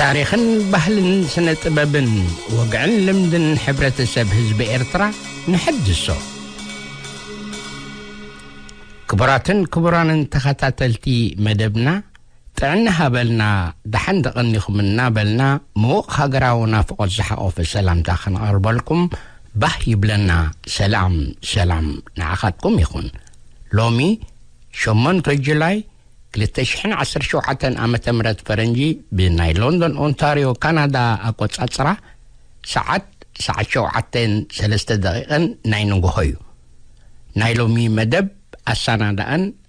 ታሪኽን ባህልን ስነ ጥበብን ወግዕን ልምድን ሕብረተሰብ ህዝቢ ኤርትራ ንሐድሶ ክቡራትን ክቡራንን ተኸታተልቲ መደብና ጥዕና ሃበልና ደሓን ደቐኒኹም እናበልና ምዉቕ ሃገራዊ ናፍቖት ዝሓቖፈ ሰላምታ ከነቐርበልኩም ባህ ይብለና ሰላም ሰላም ንዓኻትኩም ይኹን ሎሚ ሸሞንተ ጁላይ ክልተ ሽሕን ዓሰርተ ሸውዓተን ዓመተ ምህረት ፈረንጂ ብናይ ሎንዶን ኦንታርዮ ካናዳ ኣቆጻጽራ ሰዓት ሰዓት ሸውዓተን ሰለስተ ደቂቕን ናይ ንግሆ እዩ ናይ ሎሚ መደብ ኣሰናዳእን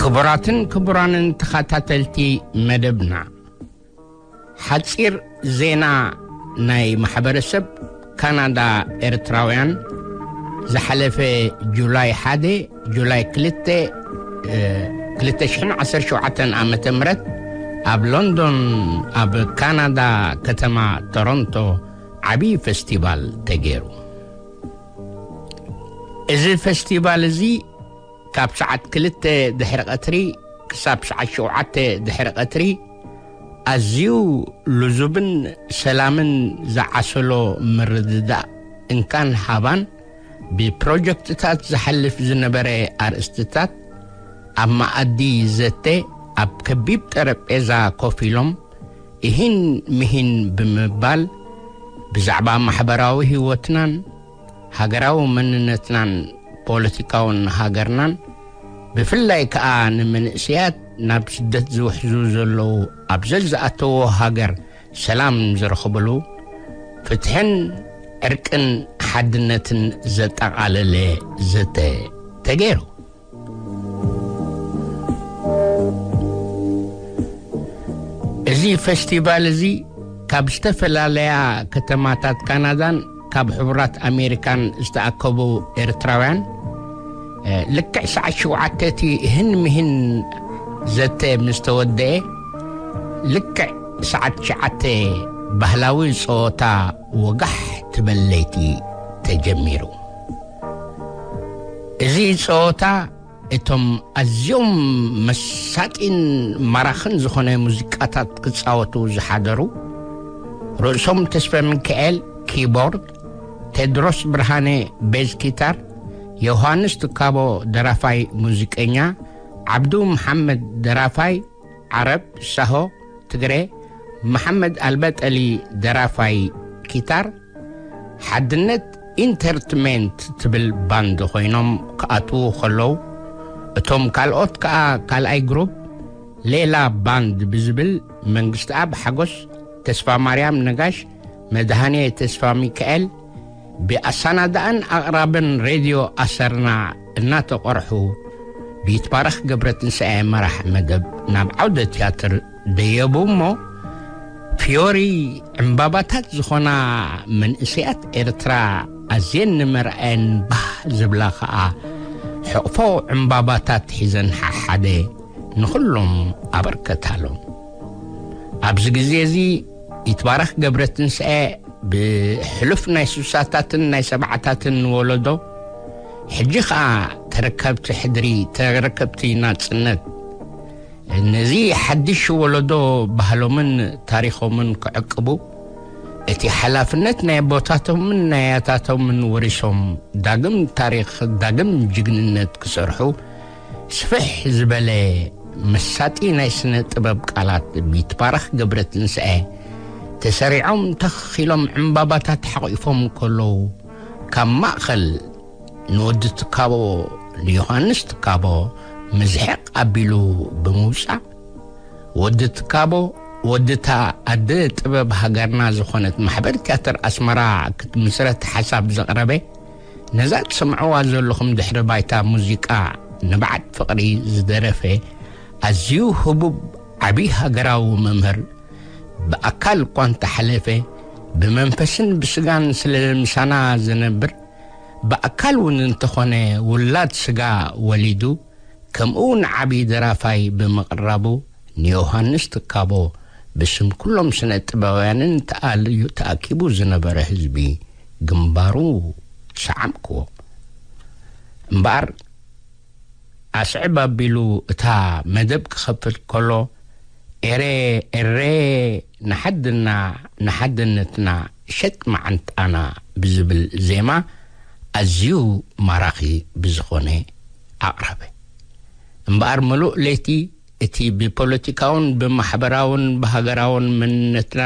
ክቡራትን ክቡራንን ተኸታተልቲ መደብና ሓፂር ዜና ናይ ማሕበረሰብ ካናዳ ኤርትራውያን ዝሓለፈ ጁላይ ሓደ ጁላይ ክልተ እ፣ 2017 ዓ ም ኣብ ሎንዶን ኣብ ካናዳ ከተማ ቶሮንቶ ዓብዪ ፌስቲቫል ተገይሩ እዚ ፈስቲቫል እዚ ካብ ሰዓት ክልተ ድሕሪ ቐትሪ ክሳብ ሰዓት ሸውዓተ ድሕሪ ቐትሪ ኣዝዩ ልዙብን ሰላምን ዝዓሰሎ ምርድዳእ እንካን ሃባን ብፕሮጀክትታት ዝሓልፍ ዝነበረ ኣርእስትታት ኣብ መኣዲ ዘተ ኣብ ከቢብ ጠረጴዛ ኮፍ ኢሎም እሂን ምሂን ብምባል ብዛዕባ ማሕበራዊ ህይወትናን ሃገራዊ መንነትናን ፖለቲካውን ሃገርናን ብፍላይ ከኣ ንመንእሰያት ናብ ስደት ዝውሕዙ ዘለዉ ኣብ ዘዝኣተዎ ሃገር ሰላም ዝረኽብሉ ፍትሕን ዕርቅን ሓድነትን ዘጠቓለለ ዘተ ተገይሩ። እዚ ፈስቲቫል እዚ ካብ ዝተፈላለያ ከተማታት ካናዳን ካብ ሕቡራት ኣሜሪካን ዝተኣከቡ ኤርትራውያን ልክዕ ሰዓት ሸውዓተ እቲ ህን ምህን ዘተ ምስ ተወደአ ልክዕ ሰዓት ሸዓተ ባህላዊ ፀወታ ወጋሕ ትበለይቲ ተጀሚሩ እዚ ጸወታ እቶም ኣዝዮም መሳጢን ማራኽን ዝኾነ ሙዚቃታት ክጻወቱ ዝሓደሩ ርእሶም ተስፈሚካኤል፣ ኪቦርድ፣ ቴድሮስ ብርሃነ፣ ቤዝ ኪታር፣ ዮሃንስ ትካቦ፣ ደራፋይ ሙዚቀኛ፣ ዓብዱ መሓመድ፣ ደራፋይ፣ ዓረብ ሻሆ ትግረ መሓመድ ኣልበጠሊ ደራፋይ ኪታር ሓድነት ኢንተርትመንት ትብል ባንድ ኮይኖም ክኣትዉ ከለዉ እቶም ካልኦት ከኣ ካልኣይ ግሩፕ ሌላ ባንድ ብዝብል መንግስትኣብ ሓጎስ ተስፋ ማርያም ነጋሽ መድሃኔ ተስፋ ሚካኤል ብኣሳናዳእን ኣቕራብን ሬድዮ ኣሰርና እናተቐርሑ ብይትባረኽ ገብረትንሳኤ መራሕ መደብ ናብ ዓውደ ትያትር ደየቡ እሞ ፍዮሪ ዕምባባታት ዝኾና መንእሰያት ኤርትራ ኣዝየን ንመርኣየን ባህ ዝብላ ኸኣ ሕቕፎ ዕምባባታት ሒዘን ሓሓደ ንኹሎም ኣበርከታሎም ኣብዚ ግዜ እዚ ይትባረክ ገብረትንሳኤ ብሕሉፍ ናይ ስሳታትን ናይ ሰብዓታትን ወለዶ ሕጂ ከኣ ተረከብቲ ሕድሪ ተረከብቲ ናጽነት ነዚ ሓድሽ ወለዶ ባህሎምን ታሪኾምን ክዕቅቡ እቲ ሓላፍነት ናይ ኣቦታቶምን ናይ ኣያታቶምን ወሪሶም ዳግም ታሪኽ ዳግም ጅግንነት ክሰርሑ ስፍሕ ዝበለ መሳጢ ናይ ስነ ጥበብ ቃላት ብይትባረኽ ገብረትንሳኤ ተሰሪዖም ተኽ ኢሎም ዕምባባታት ሓቚፎም ከለዉ ካብ ማእከል ንወዲ ትካቦ ንዮሃንስ ትካቦ ምዝሕቕ ኣቢሉ ብምውጻእ ወዲ ትካቦ ወዲ እታ ኣደ ጥበብ ሃገርና ዝኾነት ማሕበር ትያትር ኣስመራ ክትምስረት ሓሳብ ዘቕረበ ነዛ ትሰምዕዋ ዘለኹም ድሕሪ ባይታ ሙዚቃ ንብዓት ፍቕሪ ዝደረፈ ኣዝዩ ህቡብ ዓቢ ሃገራዊ መምህር ብኣካል እኳ እንተሓለፈ ብመንፈስን ብስጋን ስለ ምሳና ዝነብር ብኣካል እውን እንተኾነ ውላድ ስጋ ወሊዱ ከምኡ'ውን ዓቢ ደራፋይ ብምቕራቡ ንዮሃንስ ትካቦ ብስም ኩሎም ስነ-ጥበባውያንን ተኣልዩ ተኣኪቡ ዝነበረ ህዝቢ ግንባሩ ሰዓምክዎ። እምበኣር ኣስዕብ ኣቢሉ እታ መደብ ክኸፍት ከሎ ኤሬ ኤሬ ንሓድና ንሓድነትና ሸጥ መዓንጣና ብዝብል ዜማ ኣዝዩ ማራኺ ብዝኾነ ኣቕረበ። እምበኣር ምሉእ ለይቲ እቲ ብፖለቲካውን ብማሕበራውን ብሃገራውን መንነትና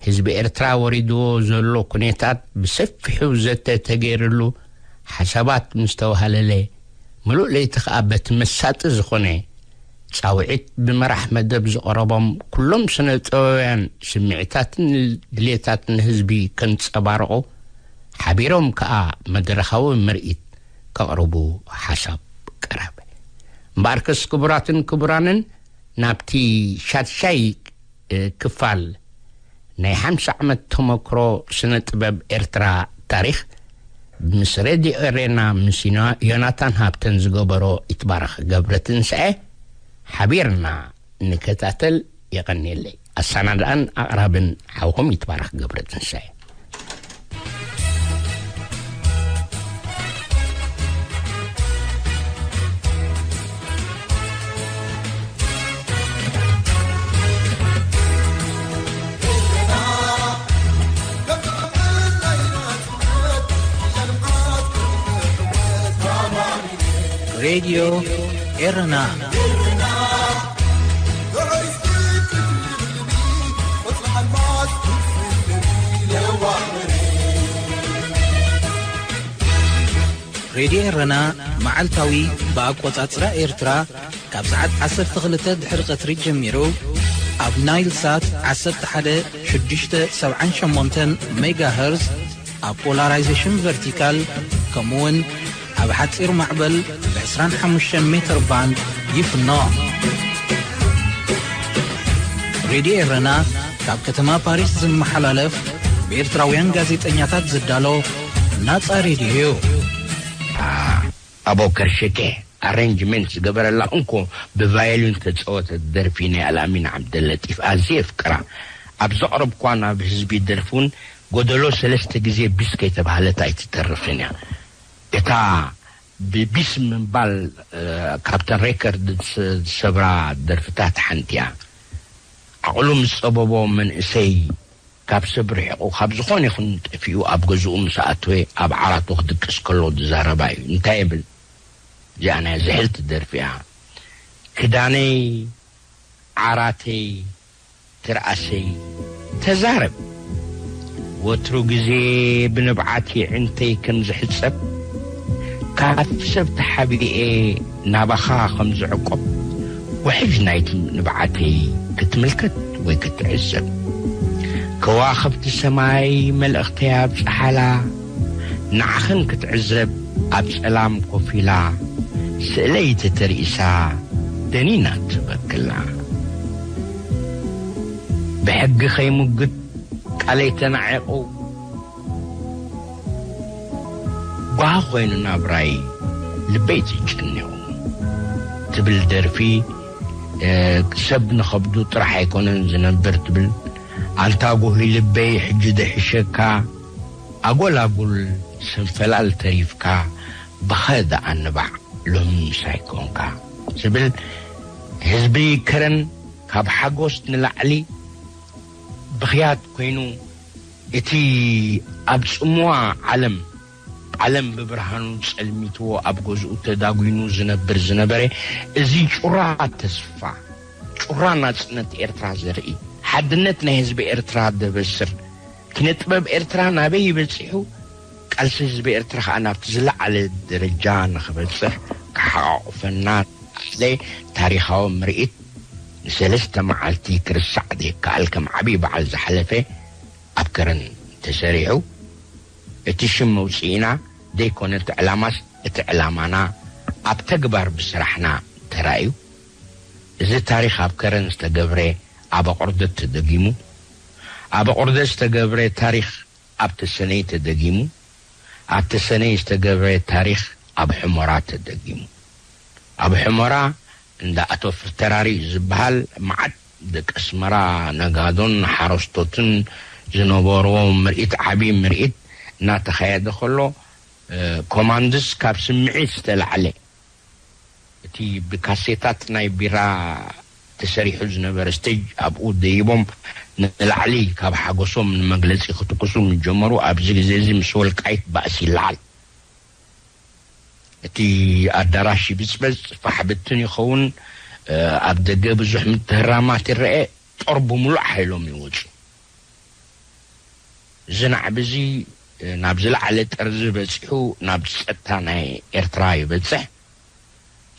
ህዝቢ ኤርትራ ወሪድዎ ዘሎ ኩኔታት ብሰፊሑ ዘተ ተገይርሉ ሓሳባት ምስ ተዋሃለለ ምሉእ ለይቲ ከኣ በቲ መሳጢ ዝኾነ ጻውዒት ብመራሕ መደብ ዝቐረቦም ኩሎም ስነ-ጥበባውያን ስምዒታትን ድሌታትን ህዝቢ ከንጸባርቑ ሓቢሮም ከኣ መድረኻዊ ምርኢት ከቕርቡ ሓሳብ ቀረበ። እምበኣርከስ ክቡራትን ክቡራንን ናብቲ ሻድሻይ ክፋል ናይ ሓምሳ ዓመት ተመክሮ ስነ ጥበብ ኤርትራ ታሪኽ ምስ ሬድዮ ኤሬና ምስ ዮናታን ሃብተን ዝገበሮ ይትባረኽ ገብረትንሳኤ ሓቢርና ንከታተል የቀንየለይ ኣሳናድኣን ኣቅራብን ሓውኹም ይትባረክ ገብረ ትንሳኤ ሬድዮ ኤረና ሬድዮ ኤረና መዓልታዊ ብኣቈጻጽራ ኤርትራ ካብ ሰዓት 12 ድሕሪ ቀትሪ ጀሚሩ ኣብ ናይል ሳት 11678 ሜጋ ሀርዝ ኣብ ፖላራይዜሽን ቨርቲካል ከምኡውን ኣብ ሓጺር ማዕበል ብ ዕስራን ሓሙሽተን ሜተር ባንድ ይፍኖ። ሬድዮ ኤረና ካብ ከተማ ፓሪስ ዝመሓላለፍ ብኤርትራውያን ጋዜጠኛታት ዝዳሎ ናጻ ሬድዮ እዩ። ኣቦከር ሽኬ ኣረንጅመንት ዝገበረላ እንኮ ብቫዮሊን ዝተጸወተት ደርፊ ናይ ኣልኣሚን ዓብደለጢፍ ኣዝየ የፍቅራ። ኣብ ዘቕረብኩዋ ናብ ህዝቢ ደርፊ ውን ጎደሎ ሰለስተ ግዜ ቢስ ከይተባህለት ኣይትተርፍን እያ። እታ ብቢስ ምባል ካብተን ሬከርድ ዝሰብራ ደርፍታት ሓንቲ'ያ። ዓቕሉ ምስ ጸበቦ መንእሰይ ካብ ሰብ ርሒቑ ካብ ዝኾነ ይኹን ጠፊኡ ኣብ ገዝኡ ምስ ኣተወ ኣብ ዓራቱ ክድቅስ ከሎ ዝዛረባ'ዩ። እንታይ ይብል? እዚኣ ናይ ዝሕልቲ ደርፊ'ያ። ክዳነይ ዓራተይ ትርኣሰይ ተዛረብ ወትሩ ግዜ ብንብዓት የዒንተይ ከም ዝሕጸብ ካብ ሰብ ተሓቢኤ ናባኻ ከም ዝዕቆብ ውሕጅ ናይቲ ንብዓተይ ክትምልከት ወይ ክትዕዘብ ከዋኽብቲ ሰማይ መልእኽተይ ኣብጽሓላ ንዓኽን ክትዕዘብ ኣብ ጸላም ኮፍ ኢላ ስእለይ ተተርኢሳ ደኒና ትበክላ ብሕጊ ከይሙግት ቃለይ ተናዒቑ ጓሂ ኮይኑ ናብራይ ልበይ ተጨኒቑ ትብል ደርፊ ሰብ ንኸብዱ ጥራሕ ኣይኮነን ዝነብር ትብል ኣንታ ጉሂ ልበይ ሕጂ ዶ ይሕሸካ ኣጎል ኣጉል ስንፈላል ተሪፍካ ብኸ ደኣ ንባዕ ሎሚ ምሳይ ኮንካ ዝብል ህዝቢ ከረን ካብ ሓጎስ ንላዕሊ ብኽያት ኮይኑ እቲ ኣብ ጽምዋ ዓለም ዓለም ብብርሃኑ ጸልሚትዎ ኣብ ገዝኡ ተዳጉኑ ዝነብር ዝነበረ እዚ ጩራ ተስፋ ጩራ ናጽነት ኤርትራ ዘርኢ ሓድነት ናይ ህዝቢ ኤርትራ ደበስር ኪነ ጥበብ ኤርትራ ናበይ በጺሑ ቃልሲ ህዝቢ ኤርትራ ከኣ ናብቲ ዝለዓለ ደረጃ ንኽበጽሕ ክሓቛቑፈና ዝኸኣለ ታሪኻዊ ምርኢት ንሰለስተ መዓልቲ ክርሳዕ ዘይከኣል ከም ዓቢ በዓል ዝሓለፈ ኣብ ከረን ተሰሪሑ እቲ ሽም መውጽኢና ዘይኮነ እቲ ዕላማስ እቲ ዕላማና ኣብ ተግባር ብስራሕና ተራእዩ እዚ ታሪኽ ኣብ ከረን ዝተገብረ ኣብ ኣቑርደት ተደጊሙ ኣብ ኣቑርደት ዝተገብረ ታሪኽ ኣብ ተሰነይ ተደጊሙ፣ ኣብ ተሰነይ ዝተገብረ ታሪኽ ኣብ ሑመራ ተደጊሙ። ኣብ ሑመራ እንዳ ኣቶ ፍርተራሪ ዝበሃል መዓት ደቂ ኣስመራ ነጋዶን ሓረስቶትን ዝነበርዎ ምርኢት ዓቢ ምርኢት እናተኻየደ ከሎ ኮማንድስ ካብ ስምዒት ዝተላዕለ፣ እቲ ብካሴታት ናይ ቢራ ተሰሪሑ ዝነበረ ስቴጅ ኣብኡ ደይቦም ንላዕሊ ካብ ሓጎሶም ንመግለጺ ክትኩሱ ምስ ጀመሩ ኣብዚ ግዜ'ዚ ምስ ወልቃይት ባእሲ ይለዓል። እቲ ኣዳራሽ ይብጽበጽ፣ ፋሕ ብትን ይኸውን፣ ኣብ ደገ ብዙሕ ምትህራማት ይረኤ፣ ጦር ብምሉእ ሓይሎም ይወጹ። እዚ ናዕቢ'ዚ ናብ ዝለዓለ ጥርዚ በጺሑ ናብ ጸጥታ ናይ ኤርትራ ይበጽሕ።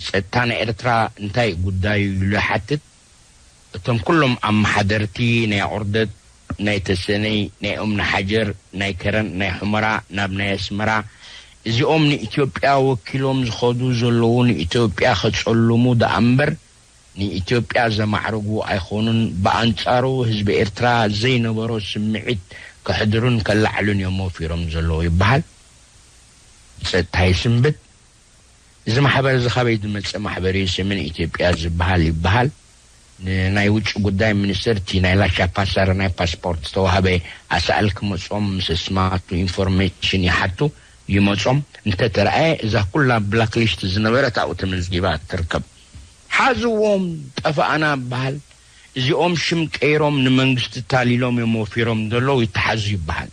ጸጥታ ናይ ኤርትራ እንታይ'ዩ ጉዳዩ ኢሉ ይሓትት። እቶም ኩሎም ኣመሓደርቲ ናይ ኣቑርደት፣ ናይ ተሰነይ፣ ናይ ኡምነሓጀር፣ ናይ ከረን፣ ናይ ሑመራ፣ ናብ ናይ ኣስመራ፣ እዚኦም ንኢትዮጵያ ወኪሎም ዝኸዱ ዘለዉ ንኢትዮጵያ ከጸልሙ ደኣምበር ንኢትዮጵያ ዘማዕርጉ ኣይኮኑን ብኣንጻሩ ህዝቢ ኤርትራ ዘይነበሮ ስምዒት ከሕድሩን ከላዕሉን እዮም ወፊሮም ዘለዉ ይበሃል ብጸጥታ ይስንብድ እዚ ማሕበር እዚ ካበይ ዝመጸ ማሕበር እዩ ሰሜን ኢትዮጵያ ዝበሃል ይበሃል ንናይ ውጭ ጉዳይ ሚኒስትር እቲ ናይ ላሻ ፓሳር ናይ ፓስፖርት ዝተዋህበ ኣሳእል ክመጾም ምስ እስማቱ ኢንፎርሜሽን ይሓቱ ይመጾም እንተተረኣየ እዛ ኩላ ብላክሊስት ዝነበረት ኣብኡ ተመዝጊባ ትርከብ ሓዝዎም ጠፋእና ይበሃል እዚኦም ሽም ቀይሮም ንመንግስቲ ታሊሎም እዮም ወፊሮም ዘለው ይተሓዙ ይበሃል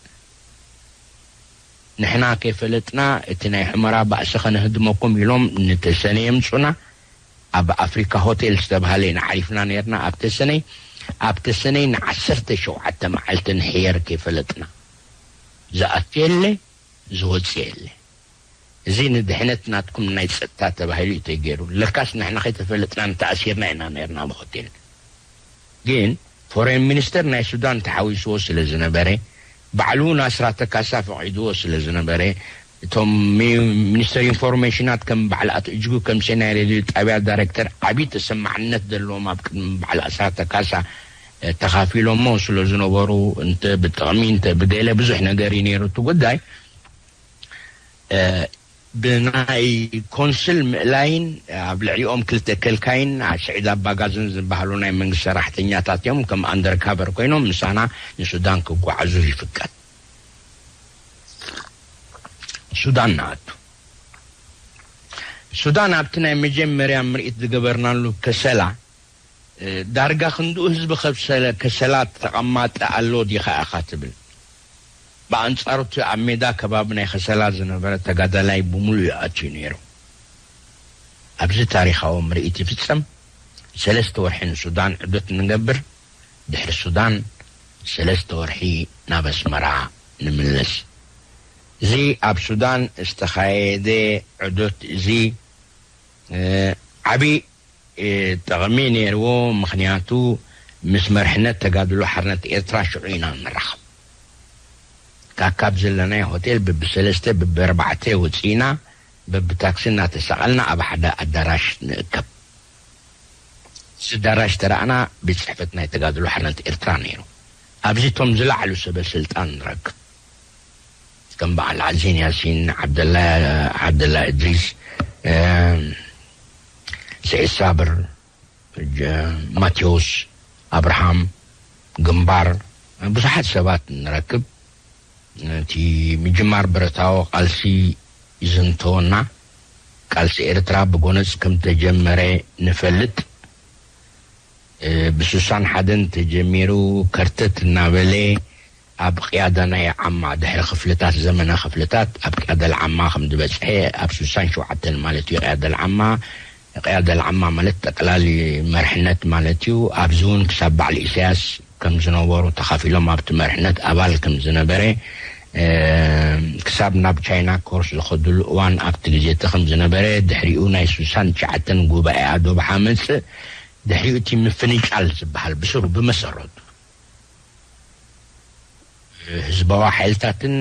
ንሕና ከይፈለጥና እቲ ናይ ሑመራ ባእሲ ከነህድመኩም ኢሎም ንተሰነይ የምፁና ኣብ ኣፍሪካ ሆቴል ዝተብሃለ ኢና ዓሪፍና ነይርና ኣብ ተሰነይ ኣብ ተሰነይ ንዓሰርተ ሸውዓተ መዓልቲ ንሕየር ከይፈለጥና ዝኣቱ የለ ዝወፅእ የለ። እዚ ንድሕነት ናትኩም ናይ ጸጥታ ተባሂሉ እዩ ተገይሩ ለካስ ንሕና ከይተፈለጥና ንተኣሲርና ኢና ነርና ኣብ ሆቴል ግን ፎረን ሚንስተር ናይ ሱዳን ተሓዊስዎ ስለ ዝነበረ ባዕሉ ን ኣስራተ ካሳ ፈቂድዎ ስለ ዝነበረ እቶም ሚንስተር ኢንፎርሜሽናት ከም ባዓል ኣቶ እጅጉ ከምሴ ናይ ሬድዮ ጣብያ ዳረክተር ዓቢ ተሰማዕነት ዘለዎም ኣብ ቅድሚ ባዓል ኣስራተ ካሳ ተካፊሎሞ ስለ ዝነበሩ እንተ ብጥቅሚ እንተ ብገለ ብዙሕ ነገር እዩ ነይሩ እቲ ጉዳይ ብናይ ኮንስል ምእላይን ኣብ ልዕሊኦም ክልተ ከልካይን ስዒድ ኣባጋዝን ዝበሃሉ ናይ መንግስቲ ሰራሕተኛታት እዮም ከም ኣንደርካቨር ኮይኖም ምሳና ንሱዳን ክጓዓዙ ይፍቀድ። ሱዳን ንኣቱ። ሱዳን ኣብቲ ናይ መጀመርያ ምርኢት ዝገበርናሉ ከሰላ፣ ዳርጋ ክንድኡ ህዝቢ ከብሰለ ከሰላት ተቐማጢ ኣሎ ዲኻ ኢኻ ትብል? ብኣንጻሩ እቲ ኣብ ሜዳ ከባቢ ናይ ከሰላ ዝነበረ ተጋዳላይ ብምሉኡ እዩ ኣትዩ ነይሩ። ኣብዚ ታሪኻዊ ምርኢት ይፍጸም ሰለስተ ወርሒ ንሱዳን ዑደት ንገብር ድሕሪ ሱዳን ሰለስተ ወርሒ ናብ ኣስመራ ንምለስ። እዚ ኣብ ሱዳን ዝተኻየደ ዑደት እዚ ዓቢ። ጠቕሚ ነይርዎ ምኽንያቱ ምስ መርሕነት ተጋድሎ ሓርነት ኤርትራ ሽዑ ኢና ንራኸብ ካካብ ዘለናዮ ሆቴል ብብሰለስተ ብብኣርባዕተ ወጺእና በብታክሲ እናተሳቐልና ኣብ ሓደ ኣዳራሽ ንእከብ እዚ ኣዳራሽ ተራእና ቤት ጽሕፈት ናይ ተጋድሎ ሓርነት ኤርትራ ነይሩ ኣብዚ እቶም ዝላዕሉ ሰበ ስልጣን ንረክብ ከም በዓል ዓዚን ያሲን፣ ዓብደላ ዓብደላ እድሪስ፣ ስዒድ ሳብር፣ ማቴዎስ ኣብርሃም፣ ግንባር ብዙሓት ሰባት ንረክብ። እቲ ምጅማር ብረታዊ ቃልሲ ይዝንተወና፣ ቃልሲ ኤርትራ ብጎነጽ ከም ተጀመረ ንፈልጥ። ብስሳን ሓደን ተጀሚሩ ከርተት እናበለ፣ ኣብ ቅያዳናይ ዓማ ድሕሪ ክፍልታት ዘመነ ክፍልታት ኣብ ቅያደል ዓማ ከም ዝበጽሔ ኣብ ሱሳን ሸውዓተን ማለት እዩ ቅያደል ዓማ ቅያደል ዓማ ማለት ጠቅላሊ መርሕነት ማለት እዩ ኣብዚ ውን ክሳብ ባዕል ኢሰያስ ከም ዝነበሩ ተኻፊሎም ኣብቲ መርሕነት ኣባል ከም ዝነበረ ክሳብ ናብ ቻይና ኮርስ ዝኸድሉ እዋን ኣብቲ ግዜቲ ከም ዝነበረ ድሕሪኡ ናይ ሱሳን ትሽዓተን ጉባኤኣ ዶብ ሓመጽእ ድሕሪኡ እቲ ምፍንጫል ዝበሃል ብስሩ ብመሰረቱ ህዝባዊ ሓይልታትን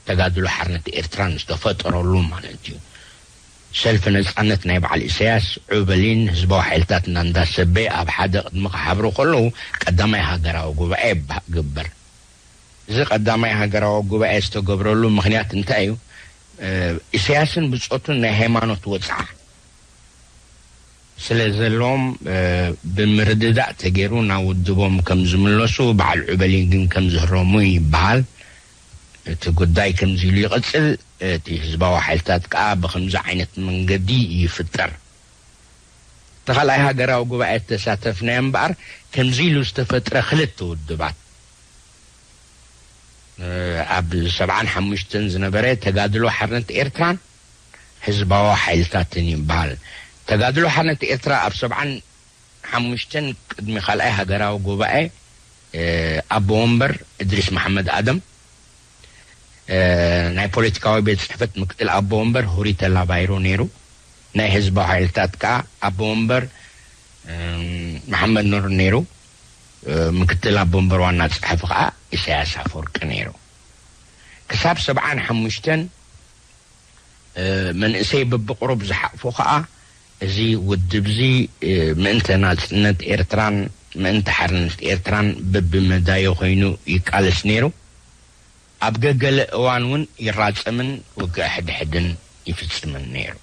ተጋድሎ ሓርነት ኤርትራን ዝተፈጠረሉ ማለት እዩ። ሰልፊ ነጻነት ናይ በዓል ኢሰያስ፣ ዑበሊን ህዝባዊ ሓይልታት እና እንዳ ሰቤ ኣብ ሓደ ቅድሚ ክሓብሩ ከለዉ ቀዳማይ ሃገራዊ ጉባኤ ግበር። እዚ ቀዳማይ ሃገራዊ ጉባኤ ዝተገብረሉ ምክንያት እንታይ እዩ? ኢሰያስን ብጾቱን ናይ ሃይማኖት ወጽዓ፣ ስለ ዘለዎም ብምርድዳእ ተገይሩ ናብ ውድቦም ከም ዝምለሱ በዓል ዑበሊ ግን ከም ዝህረሙ ይበሃል። እቲ ጉዳይ ከምዚ ኢሉ ይቕጽል፣ እቲ ህዝባዊ ሓይልታት ከኣ ብኸምዚ ዓይነት መንገዲ ይፍጠር። እቲ ካልኣይ ሃገራዊ ጉባኤ እተሳተፍናዮ እምበኣር ከምዚ ኢሉ ዝተፈጥረ ክልተ ውድባት ኣብ ሰብዓን ሓሙሽተን ዝነበረ ተጋድሎ ሓርነት ኤርትራን፣ ህዝባዊ ሓይልታትን እዩ በሃል ተጋድሎ ሓርነት ኤርትራ ኣብ ሰብዓን ሓሙሽተን ቅድሚ ካልኣይ ሃገራዊ ጉባኤ ኣቦ ወንበር እድሪስ መሓመድ ኣደም ናይ ፖለቲካዊ ቤት ጽሕፈት ምክትል ኣቦ ወንበር ሁሪ ተላባይሮ ነይሩ ናይ ህዝባዊ ሓይልታት ከኣ ኣቦ ወንበር መሓመድ ኑር ነይሩ ምክትል ኣቦ ወንበር ዋና ጸሓፊ ከኣ ኢሳያስ ኣፈወርቂ ነይሩ ክሳብ ሰብዓን ሓሙሽተን መንእሰይ በብቕሩብ ዝሓቕፎ ከኣ እዚ ውድብዚ ምእንተ ናጽነት ኤርትራን ምእንተ ሓርነት ኤርትራን በብመዳዩ ኮይኑ ይቃለስ ነይሩ። ኣብ ገገለ እዋን እውን ይራጸምን ውግእ ሕድሕድን ይፍጽምን ነይሩ።